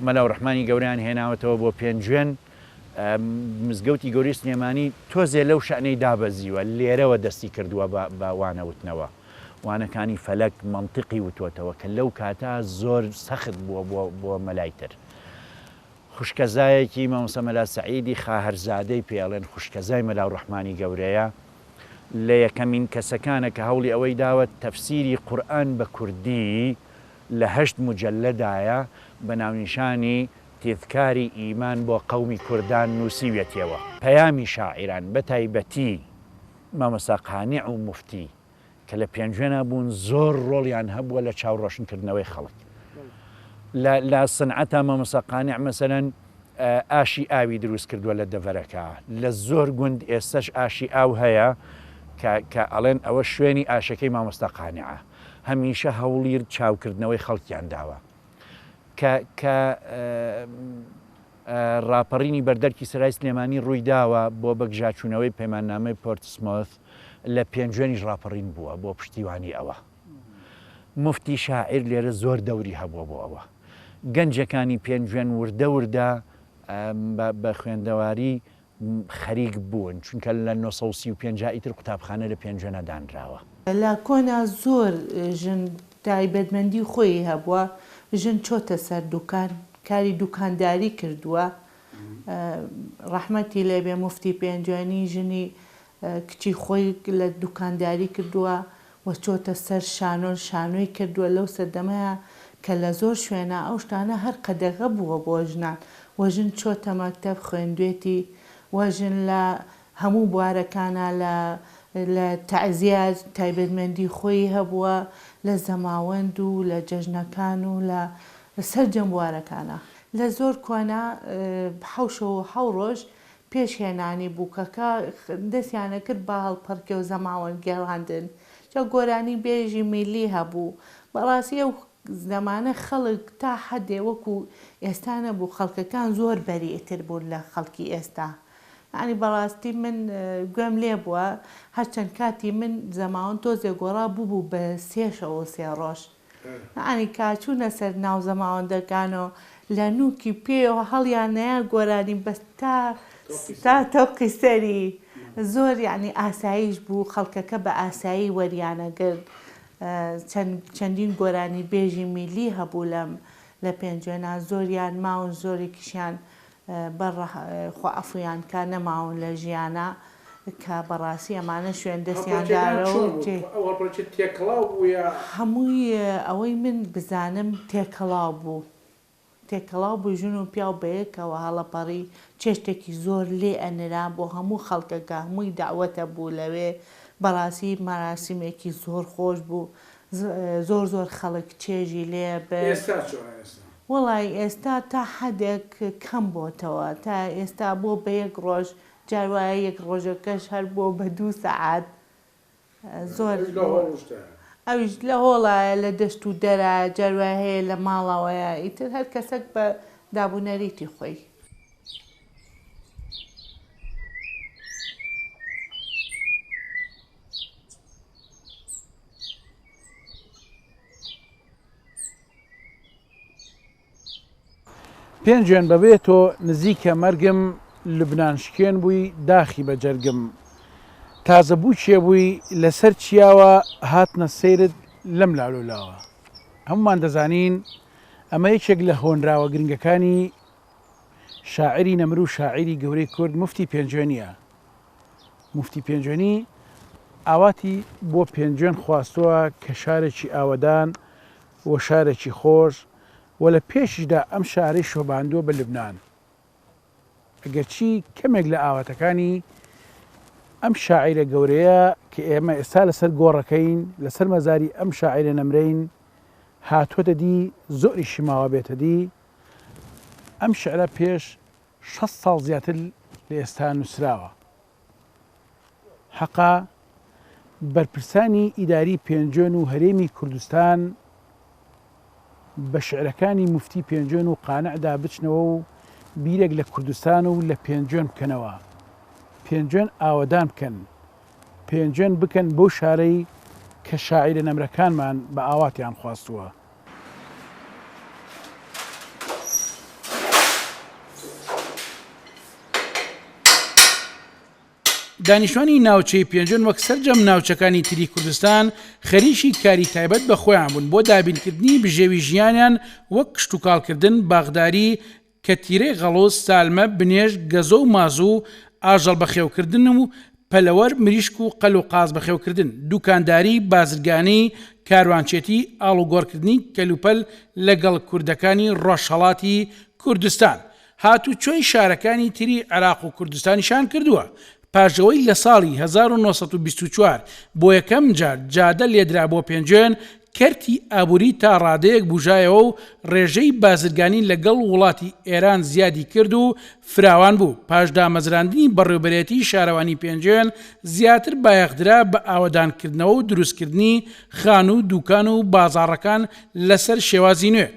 مەلاو ڕحمانی گەوریان هێناوەتەوە بۆ پێنجوێن مزگەوتی گەوری سلێمانی تۆزێ لەو شەنەی دابەزیوە لێرەوە دەستی کردووە بە وانەوتنەوە. وانەکانی فەلەک مەنتیقی وتۆتەوە کە لەو کاتە زۆر سەخت بووە بۆ بۆ مەلای تر. خوشکەزایەکی مامۆستا مەلا سەعیدی خاهەرزادەی پێ ئەڵێن خوشکەزای مەلا ڕەحمانی گەورەیە، لە یەکەمین کەسەکانە کە هەوڵی ئەوەی داوە تەفسیری قورئان بە کوردی لە هەشت موجەلەدایە بە ناونیشانی، تذکاری ایمان، بۆ قەومی کوردان نووسیویەتیەوە. پەیامی شاعیران بە تایبەتی مامۆستا قانع و موفتی کە لە پێنجوێنا بوون زۆر ڕۆڵیان هەبووە لە چاوڕۆشن کردنەوەی خەڵک لە لە سنعەتا مامۆستا قانع مەسەلەن ئاشی ئاوی دروست کردووە لە دەڤەرەکە لە زۆر گوند ئێستەش ئاشی ئاو هەیە کە کە ئەڵێن ئەوە شوێنی ئاشەکەی مامۆستا قانعە هەمیشە هەوڵیر چاوکردنەوەی خەڵکیان داوە کە کە ڕاپەڕینی بەردەرکی سەرای سلێمانی ڕوویداوە بۆ بەگژاچوونەوەی پەیماننامەی پۆرتسمۆث لە پێنجوێنیش ڕاپەڕین بووە بۆ پشتیوانی ئەوە موفتی شاعیر لێرە زۆر دەوری هەبووە بۆ ئەوە گەنجەکانی پێنجوێن وردە وردە بە خوێندەواری خەریک بوون چونکە لە نۆ سەد و سی و پێنج ئیتر قوتابخانە لە پێنجوێنە دانراوە. لە کۆنا زۆر ژن تایبەتمەندی خۆیی هەبووە ژن چۆتە سەر دوکان کاری دوکانداری کردووە ڕەحمەتی لێبێ موفتی پێنجوێنی ژنی کچی خۆی لە دوکانداری کردووە و چۆتە سەر شانۆن شانۆی کردووە لەو سەردەمەیا کە لە زۆر شوێنا ئەو شتانە هەر قەدەغە بووە بۆ ژنان و ژن چۆتە مەکتەب خوێندوێتی و ژن لە هەموو بوارەکانا لە لە تەعزیە تایبەتمەندی خۆی هەبووە لە زەماوەند و لە جەژنەکان و لە سەرجەم بوارەکانا لە زۆر کۆنا حەوشە و حەو ڕۆژ پێش هێنانی بووکەکە دەستیانەکرد بە هەڵپەڕکێ و زەماوەند گێڕاندن، جا گۆرانی بێژی میللی هەبوو، بەڕاستی ئەو زەمانە خەڵک تا حەدێ وەکو ئێستا نەبوو، خەڵکەکان زۆر بەریئتر بوون لە خەڵکی ئێستا، یانی بەڕاستی من گوێم لێبووە هەرچەند کاتی من زەماوەند تۆزێ گۆڕا ببوو بە سێ شەو و سێ ڕۆژ، ئەنیکا چوونە سەر ناو زەماوەندەکان و لە نووکی پێیەوە هەڵیان نایە گۆرانی بەس تا تا تەوقی سەری زۆر یەعنی ئاساییش بوو خەڵکەکە بە ئاسایی وەریانەگرت چەند چەندین گۆرانی بێژی میللی هەبوو لەم لە پێنجوێنان زۆریان ماون زۆرێکیشیان بە ڕە خوا عەفویان کا نەماون لە ژیانا کە بە ڕاستی ئەمانە شوێن دەستیان دارە و تێ. ئەو هەڵپەرچە تێکەڵاو بوو یا؟ هەمووی ئەوەی من بزانم تێکەڵاو بوو تێکەڵاو بوو ژن و پیاو بە یەکەوە هەڵەپەڕی چێشتێکی زۆر لێ ئەنرا بۆ هەموو خەڵکەکە هەمووی دەعوەتە بوو لەوێ بە ڕاستی مەراسیمێکی زۆر خۆش بوو زۆر زۆر خەڵک چێژی لێ برد. ئێستا چۆنە ئێستا؟ وەڵای ئێستا تا حەدێک کەم بۆتەوە تا ئێستا بۆ بە یەک ڕۆژ جار وایە یەک ڕۆژەکەش هەر بۆ بە دوو سەعات زۆر ئەویش لە هۆڵ وشتایە. ئەویش لە هۆڵایە لە دەشت و دەرایە جار وایە هەیە لە ماڵەوەیە ئیتر هەر کەسەک بە داب و نەریتی خۆی. پێنجوێن بەبێ تۆ نزیکە مەرگم لبنان شکێن بووی داخی بە جەرگم تازە بوو چێ بووی لەسەر چیاوە هاتنە سەیرت لەم لاولولاوە هەمومان دەزانین ئەمە یەکێک لە هۆنراوە گرنگەکانی شاعری نەمر و شاعری گەورەی کورد مفتی پێنجوێنە موفتی پێنجوێنی ئاواتی بۆ پێنجوێن خواستووە کە شارێکی ئاوەدان و شارێکی خۆش و لە پێشیشدا ئەم شارەی شۆباندووە بە لوبنان. ئەگەرچی کەمێک لە ئاواتەکانی ئەم شاعیرە گەورەیە کە ئێمە ئێستا لەسەر گۆڕەکەین لەسەر مەزاری ئەم شاعیرە نەمرین هاتووەتە دی زۆری شماوە بێتە دی ئەم شعرە پێش شەست ساڵ زیاتر لە ئێستا نووسراوە. حەقە بەرپرسانی ئیداری پێنجوێن و هەرێمی کوردستان بە شعرەکانی موفتی پێنجوێن و قانعدا بچنەوە و بیرێک لە کوردستان و لە پێنجوێن بکەنەوە. پێنجوێن ئاوەدان بکەن. پێنجوێن بکەن بەو شارەی کە شاعیرە نەمرەکانمان بە ئاواتیان خواستووە. دانیشتوانی ناوچەی پێنجن وەک سرجەم ناوچەکانی تری کوردستان خەریکی کاری تایبەت بە خۆیان بوون بۆ دابینکردنی بژێوی ژیانیان وەک کشتتوکاڵکردن باغداری کە تیرەی غەڵوز، سالمە، بنێژ، گەزۆ و مازوو و ئاژەڵ بەخێوکردن و پەلەوەر، مریشک و قەل و قاز بەخێوکردن، دووکانداری، بازرگانی، کاروانچێتی، ئاڵوگۆڕکردنی کەلوپەل لەگەڵ کوردەکانی ڕۆژهەڵاتی کوردستان، هاتوچۆی شارەکانی تری عێراق و کوردستانیشان کردووە، پاشئەوەی لە ساڵی هەزار و نۆ سەد و بیست و چوار بۆ یەکەم جار جادە لێدرا بۆ پێنجوێن، کەرتی ئابووری تا ڕادەیەک بوژایەوە و ڕێژەی بازرگانی لە گەڵ وڵاتی ئێران زیادی کرد و فراوان بوو، پاش دامەزراندنی بەڕێوبەرێتی شارەوانی پێنجوێن زیاتر بایەخ درا بە ئاوەدان کردنەوە و دروست کردنی خانوو دوکان و بازاڕەکان لە سەر شێوازی نوێ.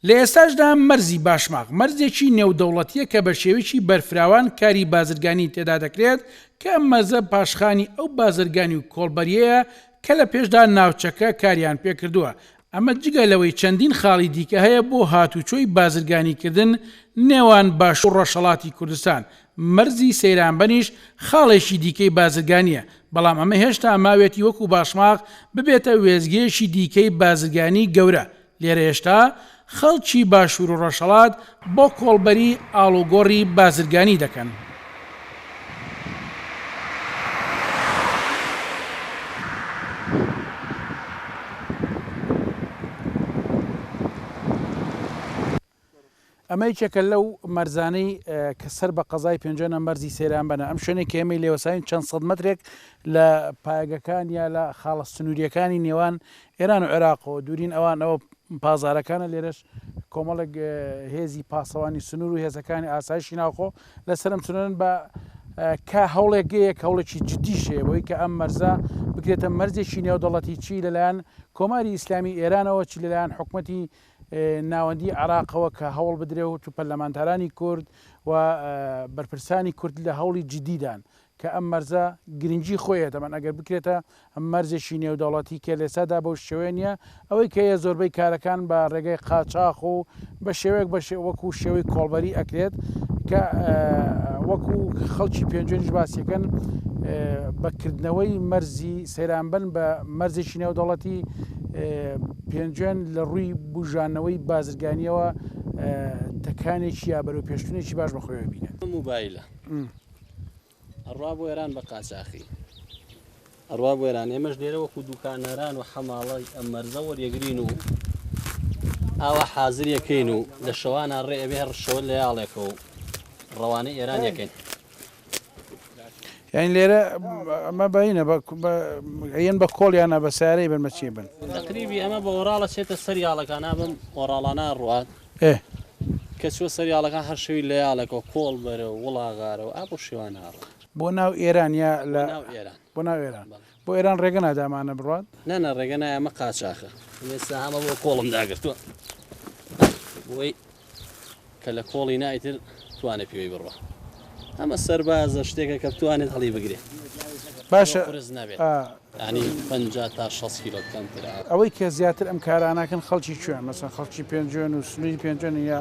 لە ئێستاشدا مەرزی باشماخ مەرزێکی نێودەوڵەتییە کە بە شێوەیەکی بەرفراوان کاری بازرگانیی تێدا دەکرێت کە ئەم مەرزە پاشخانی ئەو بازرگانی و کۆڵبەرییەیە کە لە پێشدا ناوچەکە کاریان پێ کردووە، ئەمە جگە لەوەی چەندین خاڵی دیکە هەیە بۆ هاتوچۆی بازرگانیکردن نێوان باشوور و ڕۆژهەڵاتی کوردستان، مەرزی سەیرانبەنیش خاڵێکی دیکەی بازرگانییە، بەڵام ئەمە هێشتا ماوێتی وەکو باشماخ ببێتە وێستگەیەکی دیکەی بازرگانیی گەورە لێرە هێشتا خەڵکی باشوور و ڕۆژهەڵات بۆ کۆڵبەری ئاڵوگۆڕی بازرگانی دەکەن. ئەمە یەکێکە لەو مەرزانەی کە سەر بە قەزای پێنجۆنە مەرزی سەیران بەنە، ئەم شوێنەی کە ئێمەی لێوەساوین چەند سەد مەترێک لە پایەگەکان یا لە خاڵە سنوورییەکانی نێوان ئێران و عێراقەوە دوورین، ئەوان ئەوە پازارەکانە، لێرەش کۆمەڵێک هێزی پاسەوانی سنوور و هێزەکانی ئاسایشی ناوخۆ لەسەر ئەم سنوورەن بە کە هەوڵێکگەیەک هەوڵێکی جددی شەیە بۆی کە ئەم مەرزە بکرێتە مەرزێکی نێودەڵەتی چی لەلایەن کۆماری ئیسلامی ئێرانەوە چی لەلایەن حکوومەتی ناوەندی عێراقەوە کە هەوڵ بدرێوت و پەرلەمانتارانی کورد و بەرپرسانی کورد لە هەوڵی جدیدان کە ئەم مەرزە گرنگی خۆی هەیە دەبەن ئەگەر بکرێتە مەرزێکی نێودەوڵەتی کە لێسادا بەو شێوەیە نیە ئەوەی کە یە زۆربەی کارەکان بە ڕێگەی قاچاخ و بە شێوەیەک بە وەکو شێوەی کۆڵبەری ئەکرێت کە وەکو خەڵکی پێنجێنش باسیەکەن بەکردنەوەی مەرزی سەیرانبن بە مەرزێکی نێودەوڵەتی پێنجوێن لە ڕووی بوژانەوەی بازرگانییەوە تەکانێکی یا بەرەوپێشچوونێکی باش بە خۆیەوە بینێت. ئەم مۆبایلە ئەڕوا بۆ ئێران بە قاچاخی، ئەڕوا بۆ ئێران، ئێمەش لێرە وەکوو دووکاناران و حەماڵی ئەم مەرزە وەریەگرین و ئاوا حازریەکەین و لە شەوانە ڕێ ئەوێ ڕشەوە لەیاڵێکەوە ڕەوانەی ئێرانیەکەین. یانی لێرە ئەمە بەینە بە ئەیەن بە کۆڵ یانە بە سارەی بن بە چی بن تقریبی ئەمە بە وەراڵە چێتە سەریاڵەکان ئەبم وەراڵانە ڕات کە چوە سەریاڵەکان هەر شەوی لە یاڵەکە و کۆڵ بەرە و وڵاغارە و ئاپ و شێوان هاڕ بۆ ناو ئێران یا لە بۆ ناو ئێران بۆ ئێران ڕێگە نادا ئەمانە بڕوات؟ نا نا ڕێگە نایە ئەمە قاچاخە ئێستا هەمە بۆ کۆڵم داگرتووە بۆی کە لە کۆڵی نایتر توانێ پێوەی بڕوە ئەمە سەربازە شتێکە کە بتوانێت هەڵی بگرێت باشە قرس نابێت ینی پ تا 6 کیلۆ کەمتر ئەوەی کە زیاتر ئەم کاراناکەن خەڵکی کوێن مەسەن خەڵکی پێنجێن و سنووری پێنجێن یا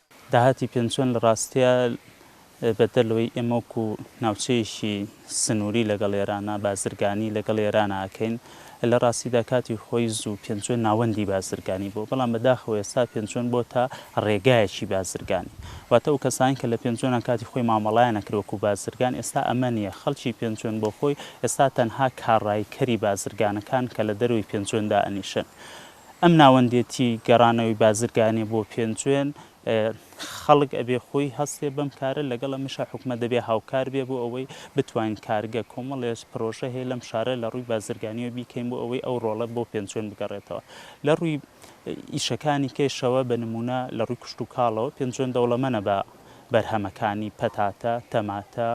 داهاتی پێنجوێن لە ڕاستیا بەدەر لەوەی ئێمە وەکو ناوچەیەکی سنووری لەگەڵ ئێرانا بازرگانی لەگەڵ ئێرانا ئەکەین، لە ڕاستیدا کاتی خۆی زوو پێنجوێن ناوەندی بازرگانی بووە، بەڵام بەداخەوە ئێستا پێنجوێن بۆتە ڕێگایەکی بازرگانی. واتە ئەو کەسانەی کە لە پێنجوێنان کاتی خۆی مامەڵەیان ئەکرد وەکو بازرگان ئێستا ئەمە نییە، خەڵکی پێنجوێن بۆخۆی ئێستا تەنها کاڕایکەری بازرگانەکان کە لە دەرەوەی پێنجوێن دائەنیشن، ئەم ناوەندێتی گەڕانەوەی بازرگانی بۆ پێنجوێن خەڵک ئەبێ خۆی هەستێ بەم کارە لەگەڵ ئەمیشا حکومە دەبێ هاوکار بێ بۆ ئەوەی بتوانین کارگە کۆمەڵێس پرۆژە هەیە لەم شارە لە ڕووی بازرگانیەوە بیکەین بۆ ئەوەی ئەو ڕۆڵە بۆ پێنجوێن بگەڕێتەوە لە ڕووی ئیشەکانی کەشەوە بە نمونە لە ڕووی کوشت و کاڵەوە پێنجوێن دەوڵەمەە بە بەرهەمەکانی پەتاتە تەماتە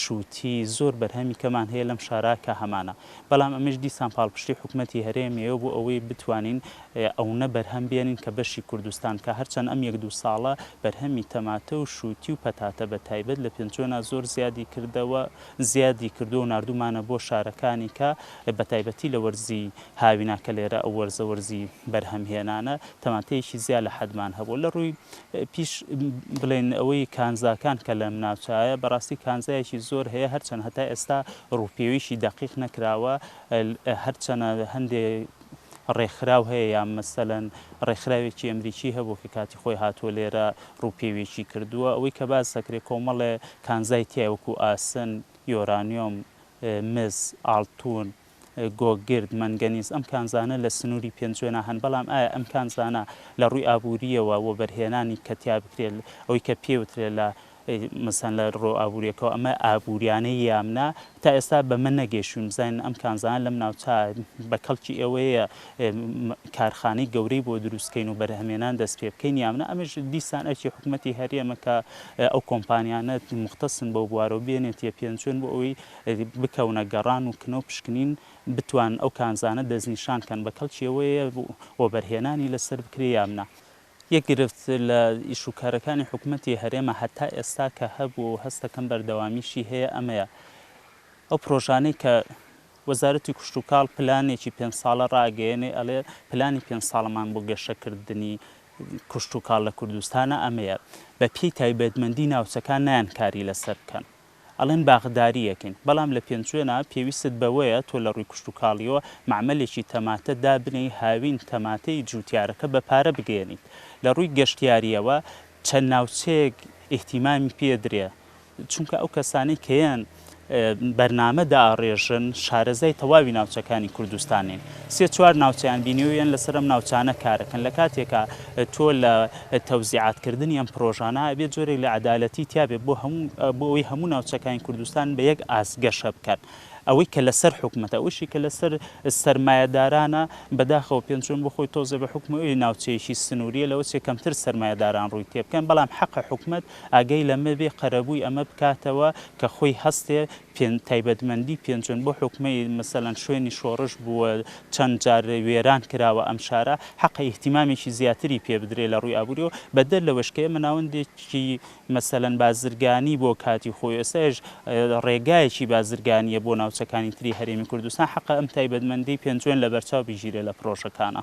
شووتی، زۆر بەرهەمی کەمان هەیە لەم شارە کە هەمانە، بەڵام ئەمەیش دیسان پاڵپشتی حکومەتی هەرێمیەوە بۆ ئەوەی بتوانین ئەونە بەرهەم بێنین کە بەشی کوردستان کە هەرچەند ئەم یەک دوو ساڵە بەرهەمی تەماتە و شووتی و پەتاتە بە تایبەت لە پێنجوێنا زۆر زیادی کردەوە زیادی کردووە و ناردوومانە بۆ شارەکانی کە بە تایبەتی لە وەرزی هاویناکە لێرە ئەو وەرزە وەرزی بەرهەمهێنانە، تەماتەیەکی زیا لە حەدمان هەبوو، لە ڕووی پیش بڵێین ئەوەی کانزاکان کە لەم ناوچایە بەڕاستی کانزایەکی زۆر هەیە، هەرچەند هەتا ئێستا ڕووپێویی دەقیق نەکراوە، هەرچەنە هەندێ ڕێکخراو هەیە یان مەسەلەن ڕێکخراوێکی ئەمریکی هەبوو کە کاتی خۆی هاتووە لێرە ڕووپێویی کردووە، ئەوەی کە باس دەکرێ کۆمەڵێ کانزای تیایە وەکوو ئاسن، یۆرانیۆم، مس، ئاڵتوون، گۆگرد، مەنگەنیز، ئەم کانزانە لە سنووری پێنجوێنا هەن، بەڵام ئایا ئەم کانزانە لە ڕووی ئابوورییەوە وەبەرهێنانی کە تیا بکرێت ئەوەی کە پێ وترێت لە مەسەن لە ڕوو ئابووریەکەەوە ئەمە ئابووریانەی یام نا تا ئێستا بەمە نەگەشوین بزانین ئەم کانزان لەم ناوچە بە کەڵکی ئێوەیە کارخانەی گەورەی بۆ دروستکەین و بەرهەمێنان دەست پێ بکەین یامنا ئەمەش دیسان ئەرکی حکوومەتتی هەرێمە کە ئەو کۆمپانیانە مختەسن بەو بوارەوە بێنێتە پێنجوێن بۆ ئەوەی بکەونە گەڕان و کنە و پشکنین بتوانن ئەو کانزانە دەستنیشان کەن بە کەڵکی ئەوەیە وەبەرهێنانی لەسەر بکرێ یان نا. یەک گرفت لە ئیش و کارەکانی حکومەتی هەرێمە هەتا ئێستا کە هەبووە و هەست دەکەم بەردەوامیشی هەیە ئەمەیە ئەو پرۆژانەی کە وەزارەتی کشتوکاڵ پلانێکی پێنج ساڵە ڕاگەیەنێ ئەڵێ پلانی پێنج ساڵەمان بۆ گەشە کردنی کشتوکاڵ لە کوردستانە ئەمەیە بە پێی تایبەتمەندی ناوچەکان نایەن کاری لەسەر بکەن. ئەڵێن باخداریەکن بەڵام لە پێنجوێنا پێویستت بەوەیە تۆ لە ڕووی کوشتوکاڵیەوە مەعمەلێکی تەماتە دابنێی هاوین تەماتەی جووتیارەکە بە پارە بگەیەنیت لە ڕووی گەشتیاریەوە چەند ناوچەیەک ئیهتیمامی پێدرێ چونکە ئەو کەسانەی کە یان بەرنامە دائەڕێژن شارەزای تەواوی ناوچەکانی کوردستانین. سێ چوار ناوچەیان بینیوە یەن لەسەر ئەم ناوچانە کارەکەن لەکاتێکا تۆ لە تەوزیعات کردنی ئەم پرۆژانە ئەبێ جۆرێک لە عەدالەتی تیابێ بۆ هەموو بۆ ئەوەی هەموو ناوچەکانی کوردستان بە یەک ئاست گەشە بکەن ئەوەی کە لەسەر حکومەتە ئەوشی کە لەسەر سەرمایەدارانە بەداخەوە پێنجوێن بۆ خۆی تۆزێ بە حکومەوەی ناوچەیەکی سنووریە لەوە چێ کەمتر سەرمایەداران ڕووی تێبکەن بەڵام حەقە حکومەت ئاگەی لەمە بێ قەرەبووی ئەمە بکاتەوە کە خۆی هەستێ پێنج تایبەتمەندی پێنجوێن بۆ حوکمەی مەسەلەن شوێنی شۆڕش بووە چەند جار وێران کراوە ئەم شارە حەقە ئیهتیمامێکی زیاتری پێ بدرێ لە ڕووی ئابووریەوە بەدەر لەوەش کە ئێمە ناوەندێکی مەسەلەن بازرگانی بۆ کاتی خۆی ئێستایش ڕێگایەکی بازرگانیە بۆ ناوچەکانی تری هەرێمی کوردستان حەقە ئەم تایبەتمەندی پێنجوێن لەبەرچاو بگیرێ لە پرۆژەکانا.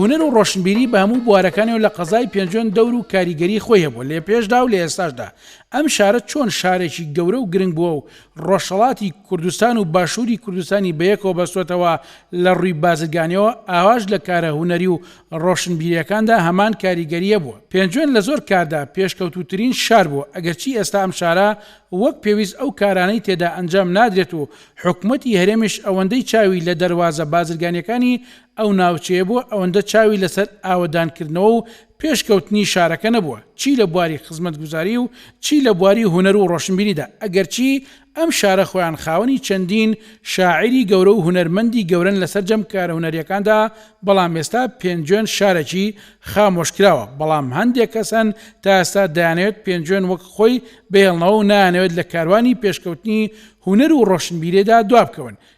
هونەر و ڕۆشنبیری بە هەموو بوارەکانیەوە لە قەزای پێنجوێن دەور و کاریگەری خۆی هەبووە لە پێشدا و لە ئێستاشدا ئەم شارە چۆن شارێکی گەورە و گرنگ بووە و ڕۆژهەڵاتی کوردستان و باشووری کوردستانی بەیەکەوە بەستۆتەوە لە ڕووی بازرگانیەوە ئاواش لە کارە هونەری و ڕۆشنبیریەکاندا هەمان کاریگەری هەبووە پێنجوێن لە زۆر کاردا پێشکەوتووترین شار بووە ئەگەرچی ئێستا ئەم شارە وەک پێویست ئەو کارانەی تێدا ئەنجام نادرێت و حکومەتی هەرێمیش ئەوەندەی چاوی لە دەروازە بازرگانیەکانی ئەو ناوچەیە بۆ ئەوەندە چاوی لەسەر ئاوەدانکردنەوە و پێشکەوتنی شارەکە نەبووە، چی لە بواری خزمەتگوزاری و چی لە بواری هونەر و ڕۆشنبیریدا، ئەگەرچی ئەم شارە خۆیان خاوەنی چەندین شاعیری گەورە و هونەرمەندی گەورەن لە سەرجەم کارە هونەرییەکاندا، بەڵام ئێستا پێنجوێن شارێکی خامۆشکراوە، بەڵام هەندێک کەس هەن تا ئێستا دەیانەوێت پێنجوێن وەک خۆی بهێڵنەوە و نایانەوێت لە کاروانی پێشکەوتنی هونەر و ڕۆشنبیریدا دوابکەون،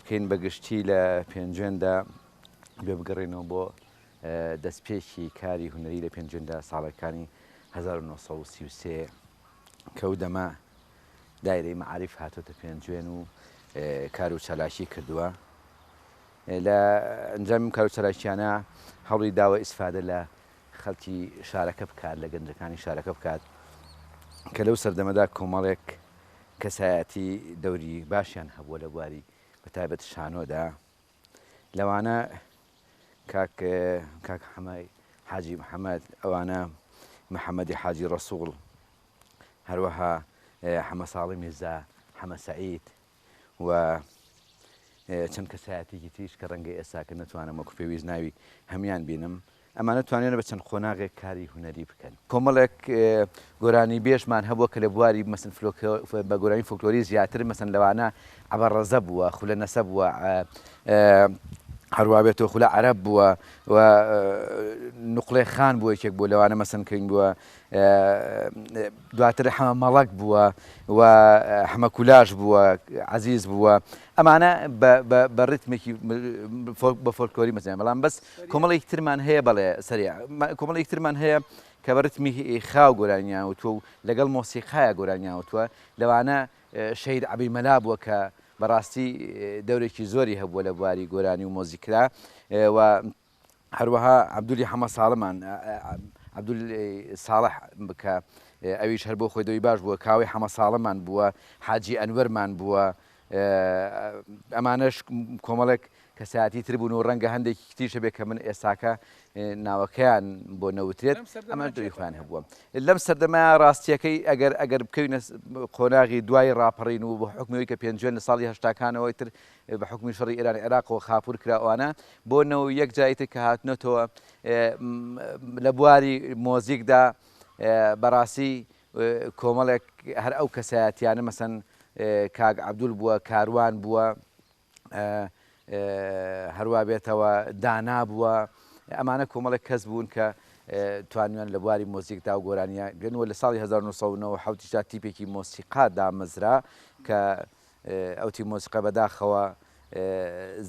بکەین بە گشتی لە پێنجوێندا گوێ بگەڕێنەوە بۆ دەستپێکی کاری هونەری لە پێنجوێندا ساڵەکانی 1933 کە و دەمە دایرەی مەعاریف هاتۆتە پێنجوێن و کار و چالاکی کردووە لە ئەنجام کار و چالاکیانە هەڵی داوە ئیسفادە لە خەڵکی شارەکە بکات لە گەنجەکانی شارەکە بکات کە لەو سەردەمەدا کۆمەڵێک کەسایەتی دەوری باشیان هەبووە لە بواری بە تایبەت شانۆدا لەوانە کاک کاک حەمای حاجی محەممەد ئەوانە محەممەدی حاجی ڕسووڵ هەروەها حەمە ساڵی میرزا حەمە سعید و چەند کەسایەتێکی تریش کە ڕەنگە ئێساکە نتوانم وەکو پێویست ناوی هەمان بینم ئەمانە توانیویانە بە چەند قۆناغێک کاری هونەری بکەن. کۆمەڵێک گۆرانیبێژمان هەبووە کە لە بواری مەسن فلۆکە بە گۆرانی فۆلکلۆری زیاتر مەسن لەوانە عەبە ڕەزە بووە، خولە نەسە بووە، هەروا بێتۆ خولە عەرەب بووە و نوقڵێ خان بووە یەکێک بووە لەوانە مەسن کرین بووە دواتر حەمە مەڵەک بووە و حەمە کولاش بووە عزیز بووە ئەمانە بە ڕتمێکی بە فۆلکۆری مەزیان بەڵام بەس کۆمەڵێک ترمان هەیە بەڵێ سەری کۆمەڵێک ترمان هەیە کە بە ڕتمی خاو گۆرانیاوتوە و لەگەڵ مۆسیقایا گۆرانیاوتوە لەوانە شەید عبی مەلا بووە کە بەڕاستی دەورێکی زۆری هەبووە لە بواری گۆرانی و مۆزیکرا و هەروەها عەبدولی حەمە ساڵمان، Abdul Saleh، کە ئەویش هەر بۆ خۆی دەوی باش بووە، کاوەی حەمە ساڵمان بووە، حاجی ئەنوەرمان بووە، ئەمانەش کۆمەڵێک کەسایەتی تر بوون و ڕەنگە هەندێکی تریش هەبێت کە من ئێستاکە ناوەکەیان بۆ نەوترێت، ئەمانە دەوری خۆیان هەبووە. لەم سەردەمە ڕاستییەکەی ئەگەر ئەگەر بکەوینە قۆناغی دوای ڕاپەڕین و بە حوکمی ئەوەی کە پێنجوێن لە ساڵی هەشتاکانەوە ئیتر بە حوکمی شەڕی ئێران عێراقەوە خاپوور کرا ئەوانە بۆ نەوەی یەک جاری تر کە هاتنەتەوە لە بواری مۆزیکدا بەڕاستی کۆمەڵێک هەر ئەو کەسایەتیانە مەسەن کاک عەبدول بووە کاروان بووە هەروە بێتەوە دانا بووە ئەمانە کۆمەڵێک کەس بوون کە توانیان لە بواری مۆزیکدا و گۆرانیە گەنوە لە ساڵی 1970 تیپێکی مۆسیقا دامەزرا کە ئەو تیم مۆسیقا بەداخەوە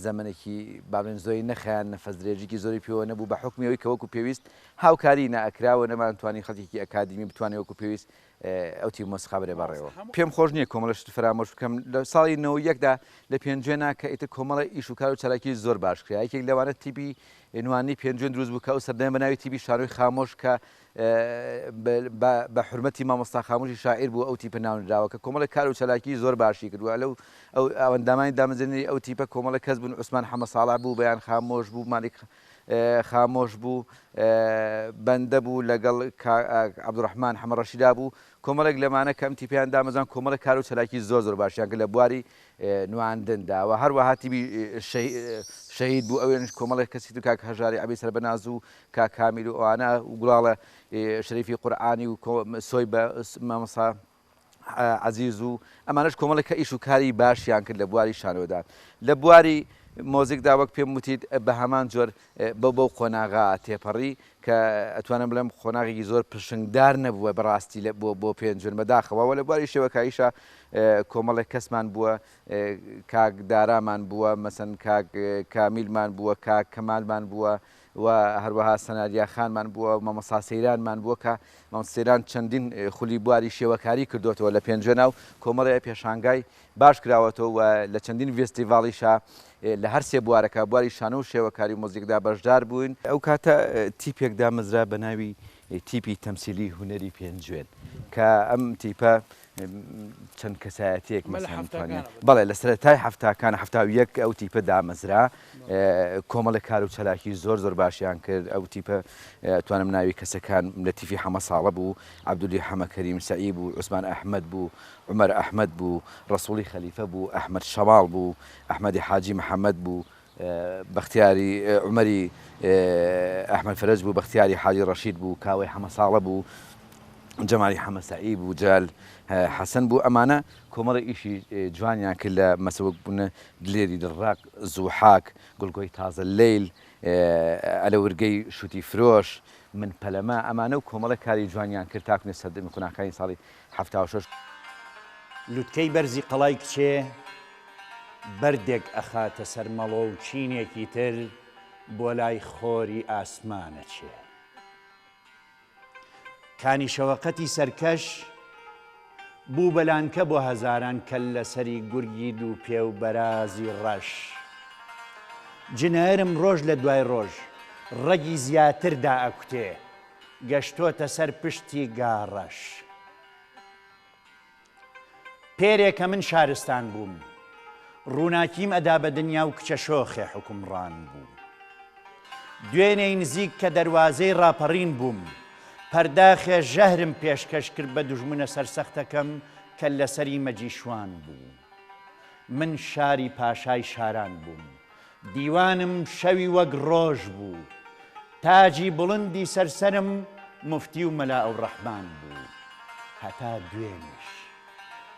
زەمەنێکی بابێن زۆری نەخایان نەفەس درێژیکی زۆری پێوە نەبوو بە حکمی ئەوی کە وەکو پێویست هاوکاری نەکراوە نەمان توانی خەڵکیکی ئەکادیمی بتوانێت وەکو پێویست ئەو تیم مۆسیقا بەێ بەڕێەوە پێم خۆش نییە کۆمەڵش فرامۆش بکەم لە ساڵی نەوە یەکدا لە پێنجێنا کە ئیتر کۆمەڵە ئیش و کار و چالاکی زۆر باش کرا یەکێک لەوانە تیبی نوانی پێنجێن دروست بوو کە ئەو سەردەم بە ناوی تیبی شارۆی خامۆش کە بە بە حورمەتی مامۆستا خاموشی شاعیر بوو ئەو تیپە ناونراوە کە کۆمەڵێک کار و چالاکی زۆر باشی کرد وە لەو ئەو ئەوەندامانی دامەزرێنەری ئەو تیپە کۆمەڵێک کەس بوون عوسمان حەمە ساڵح بوو بەیان خامۆش بوو مالیک خامۆش بوو بەندە بوو لەگەڵ کا عەبدوڕەحمان حەمە ڕەشیدا بوو کۆمەڵێک لەمانە کەم تیپیان دامەزان کۆمەڵێک کار و چالاکی زۆر زۆر باشیان کرد لە بواری نواندندا و هەروەها تیبی شەهید بوو ئەوێنش کۆمەڵێک کەسی تر کاک هەژاری عەبی سەربەناز و کاک هامیر و ئەوانە و گوڵاڵە شەریفی قورعانی و سۆی بە مامۆسا عزیز و ئەمانەش کۆمەڵێک کە ئیش و کاری باشیان کرد لە بواری شانۆدان لە بواری مۆزیکدا وەک پێم وتیت بە هەمان جۆر بەو بەو قۆناغا تێپەڕی کە ئەتوانم بڵێم قۆناغێکی زۆر پرشنگدار نەبووە بەڕاستی لە بۆ بۆ پێنجون بەداخەوە وە لە بواری شێوەکاییشە کۆمەڵێک کەسمان بووە کاک دارامان بووە مەسەن کاک کامیلمان بووە کاک کەمالمان بووە و هەروەها سەناریا خانمان بووە، مامۆستا سەیرانمان بووە کە مامۆستا سەیران چەندین خولی بواری شێوەکاری کردۆتەوە لە پێنجوێنا و کۆمەڵێ پێشانگای باش کراوەتەوە و لە چەندین ڤێستیڤاڵیشا لە هەر سێ بوارەکە، بواری شانۆ و شێوەکاری و موزیکدا بەشدار بووین. ئەو کاتە تیپێک دامەزرا بە ناوی تیپی تەمسیلی هونەری پێنجوێن کە ئەم تیپە چەند کەسایەتیەک بەڵێ لە سەرەتای هەفتاکان هەفتا و یەک ئەو تیپە دامەزرا کۆمەڵە کار و چالاکی زۆر زۆر باشیان کرد ئەو تیپە توانم ناوی کەسەکان لە تیفی حەمە ساڵە بوو عبدولی حەمەکەریم سعی بوو عوسمان ئەحمد بوو عمر ئەحمد بوو ڕسوڵی خەلیفە بوو ئەحمد شەواڵ بوو ئەحمەدی حاجی محەممەد بوو بەختیاری عومەری ئەحمەد فەرەج بوو، بەختیاری حاجی ڕەشید بوو، کاوەی حەمەساڵە بوو، جەمالی حەمەسەعی بوو، جەلال حەسەن بوو، ئەمانە کۆمەڵە ئیشی جوانیان کرد لە مەسە وەک بوونە دلێری دڵڕەق، زوحاک، گوڵگۆی تازە لەیل، ئەلەورگەی شووتی فرۆش، من پەلەمە، ئەمانە و کۆمەڵە کاری جوانیان کرد تاکونێ سەردەمی قوناخکانی ساڵی حەفتا و شەش. لوتکەی بەرزی قەڵای کچێ بەردێک ئەخاتە سەر مەڵۆ و چینێکی تر بۆ لای خۆری ئاسمان ئەچێ. کانی شەوەقەتی سەرکەش بوو بە لانکە بۆ هەزاران کەللەسەری گورگی دووپێ و بەرازی ڕەش. جنێرم ڕۆژ لە دوای ڕۆژ ڕەگی زیاتر دائەکوتێ گەشتۆتە سەر پشتی گاڕەش. پێرێ کە من شارستان بووم. ڕووناکیم ئەدا بە دنیا و کچە شۆخێ حوکمڕان بوو. دوێنێی نزیک کە دەروازەی ڕاپەڕین بووم، پەرداخێ ژەهرم پێشکەش کرد بە دوژمنە سەرسەختەکەم کەللەسەری مەجیشوان بوو. من شاری پاشای شاران بووم. دیوانم شەوی وەک ڕۆژ بوو. تاجی بڵندی سەر سەرم موفتی و مەلا ئەوڕەحمان بوو. هەتا دوێنیش.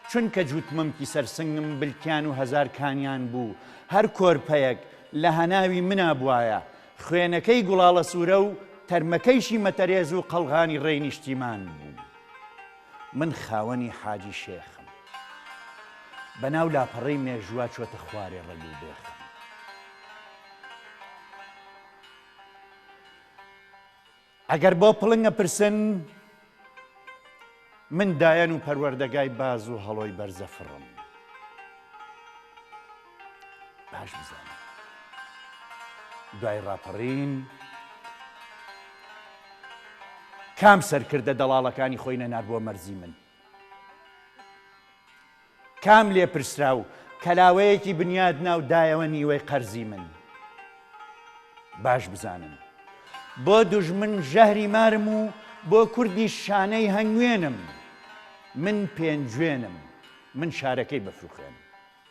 چونکە جووت مەمکی سەر سنگم بلکیان و هەزار کانیان بوو، هەر کۆرپەیەک لە هەناوی منا بوایە، خوێنەکەی گوڵاڵەسوورە و تەرمەکەیشی مەتەرێز و قەڵغانی ڕێی نیشتیمان بوو. من خاوەنی حاجی شێخم. بە ناو لاپەڕەی مێژووا چۆتە خوارێ ڕەگ و بێخم. ئەگەر بۆ پڵنگ ئەپرسن، من دایەن و پەروەردەگای باز و هەڵۆی بەرزەفڕم. باش بزانن دوای ڕاپەڕین کام سەرکردە دەڵاڵەکانی خۆی نەنار بۆ مەرزی من کام لێپرسرا و کەلاوەیەکی بنیاد ناو دایەوە نیوەی قەرزی من باش بزانن بۆ دوژمن ژەهری مارم و بۆ کوردی شانەی هەنگوێنم من پێنجوێنم من شارەکەی بەفروخێنم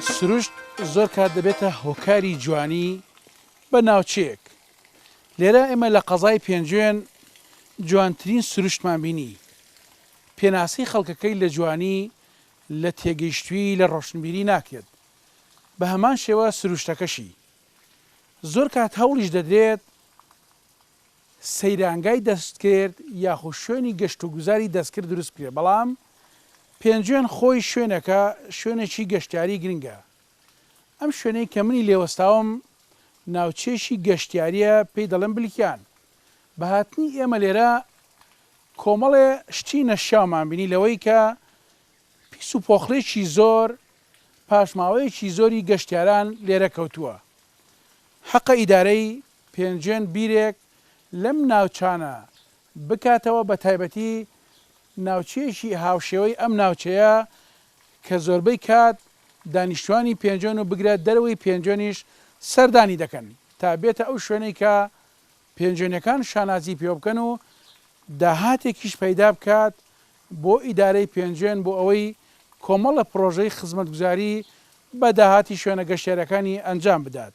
سروشت زۆر کات دەبێتە هۆکاری جوانی بە ناوچەیەک لێرە ئێمە لە قەزای پێنجوێن جوانترین سروشتمان بینی پێناسەی خەڵکەکەی لە جوانی لە تێگەیشتوی لە ڕۆشنبیری ناکرێت بە هەمان شێوە سروشتەکەشی زۆر کات هەوڵیش دەدرێت سەیرانگای دەستکرد یاخو شوێنی گەشت و گوزاری دەستکرد دروست بکرێت بەڵام پێنجوێن خۆی شوێنەکە شوێنێکی گەشتیاری گرنگە ئەم شوێنەی کە منی لێ وەستاوم ناوچەیەکی گەشتیاریە پێی دەڵێن بلکیان بە هاتنی ئێمە لێرە کۆمەڵێ شتی نەشیاومان بینی لەوەی کە پیس و پۆخڵێکی زۆر پاشماوەیەکی زۆری گەشتیاران لێرە کەوتووە حەقە ئیدارەی پێنجوێن بیرێک لەم ناوچانە بکاتەوە بە تایبەتی ناوچەیەکی هاوشێوەی ئەم ناوچەیە کە زۆربەی کات دانیشتوانی پێنجوێن و بگرە دەرەوەی پێنجوێنیش سەردانی دەکەن تا بێتە ئەو شوێنەی کە پێنجوێنیەکان شانازی پێوە بکەن و داهاتێکیش پەیدا بکات بۆ ئیدارەی پێنجوێن بۆ ئەوەی کۆمەڵە پڕۆژەی خزمەتگوزاری بە داهاتی شوێنە گەشتیاریەکانی ئەنجام بدات.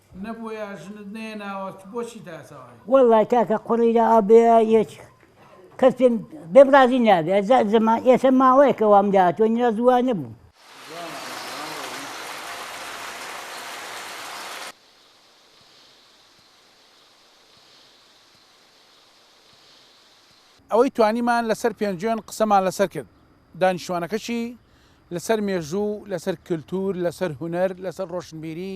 نەبووەیا ژنت نەیەناوە تو بۆچی داتەوای. وەڵای کاکە قوڕی لە ئابێ یەچ کەس پێم بێم ڕازی نابێ ئەزا زەمان ئێسە ماوەیەکە وام لە تۆ نیاز وا نەبوو. ئەوەی توانیمان لەسەر پێنجوێن قسەمان لەسەر کرد دانیشتوانەکەشی لەسەر مێژوو لەسەر کلتور لەسەر هونەر لەسەر ڕۆشنبیری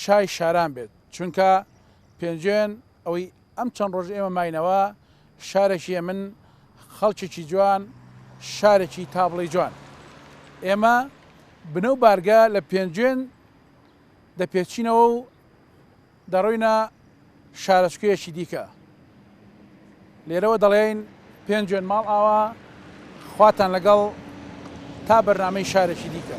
شای شاران بێت چونکە پێنجوێن ئەوەی ئەم چەند ڕۆژ ئێمە ماینەوە شارێکی ئەمن خەڵکێکی جوان شارێکی تا بڵێی جوان ئێمە بنە و بارگە لە پێنجوێن دەپێچینەوە و دەڕۆینە شارۆچکەیەکی دیکە لێرەوە دەڵێین پێنجوێن ماڵ ئاوا خواتان لەگەڵ تا بەرنمەی شارێکی دیکە.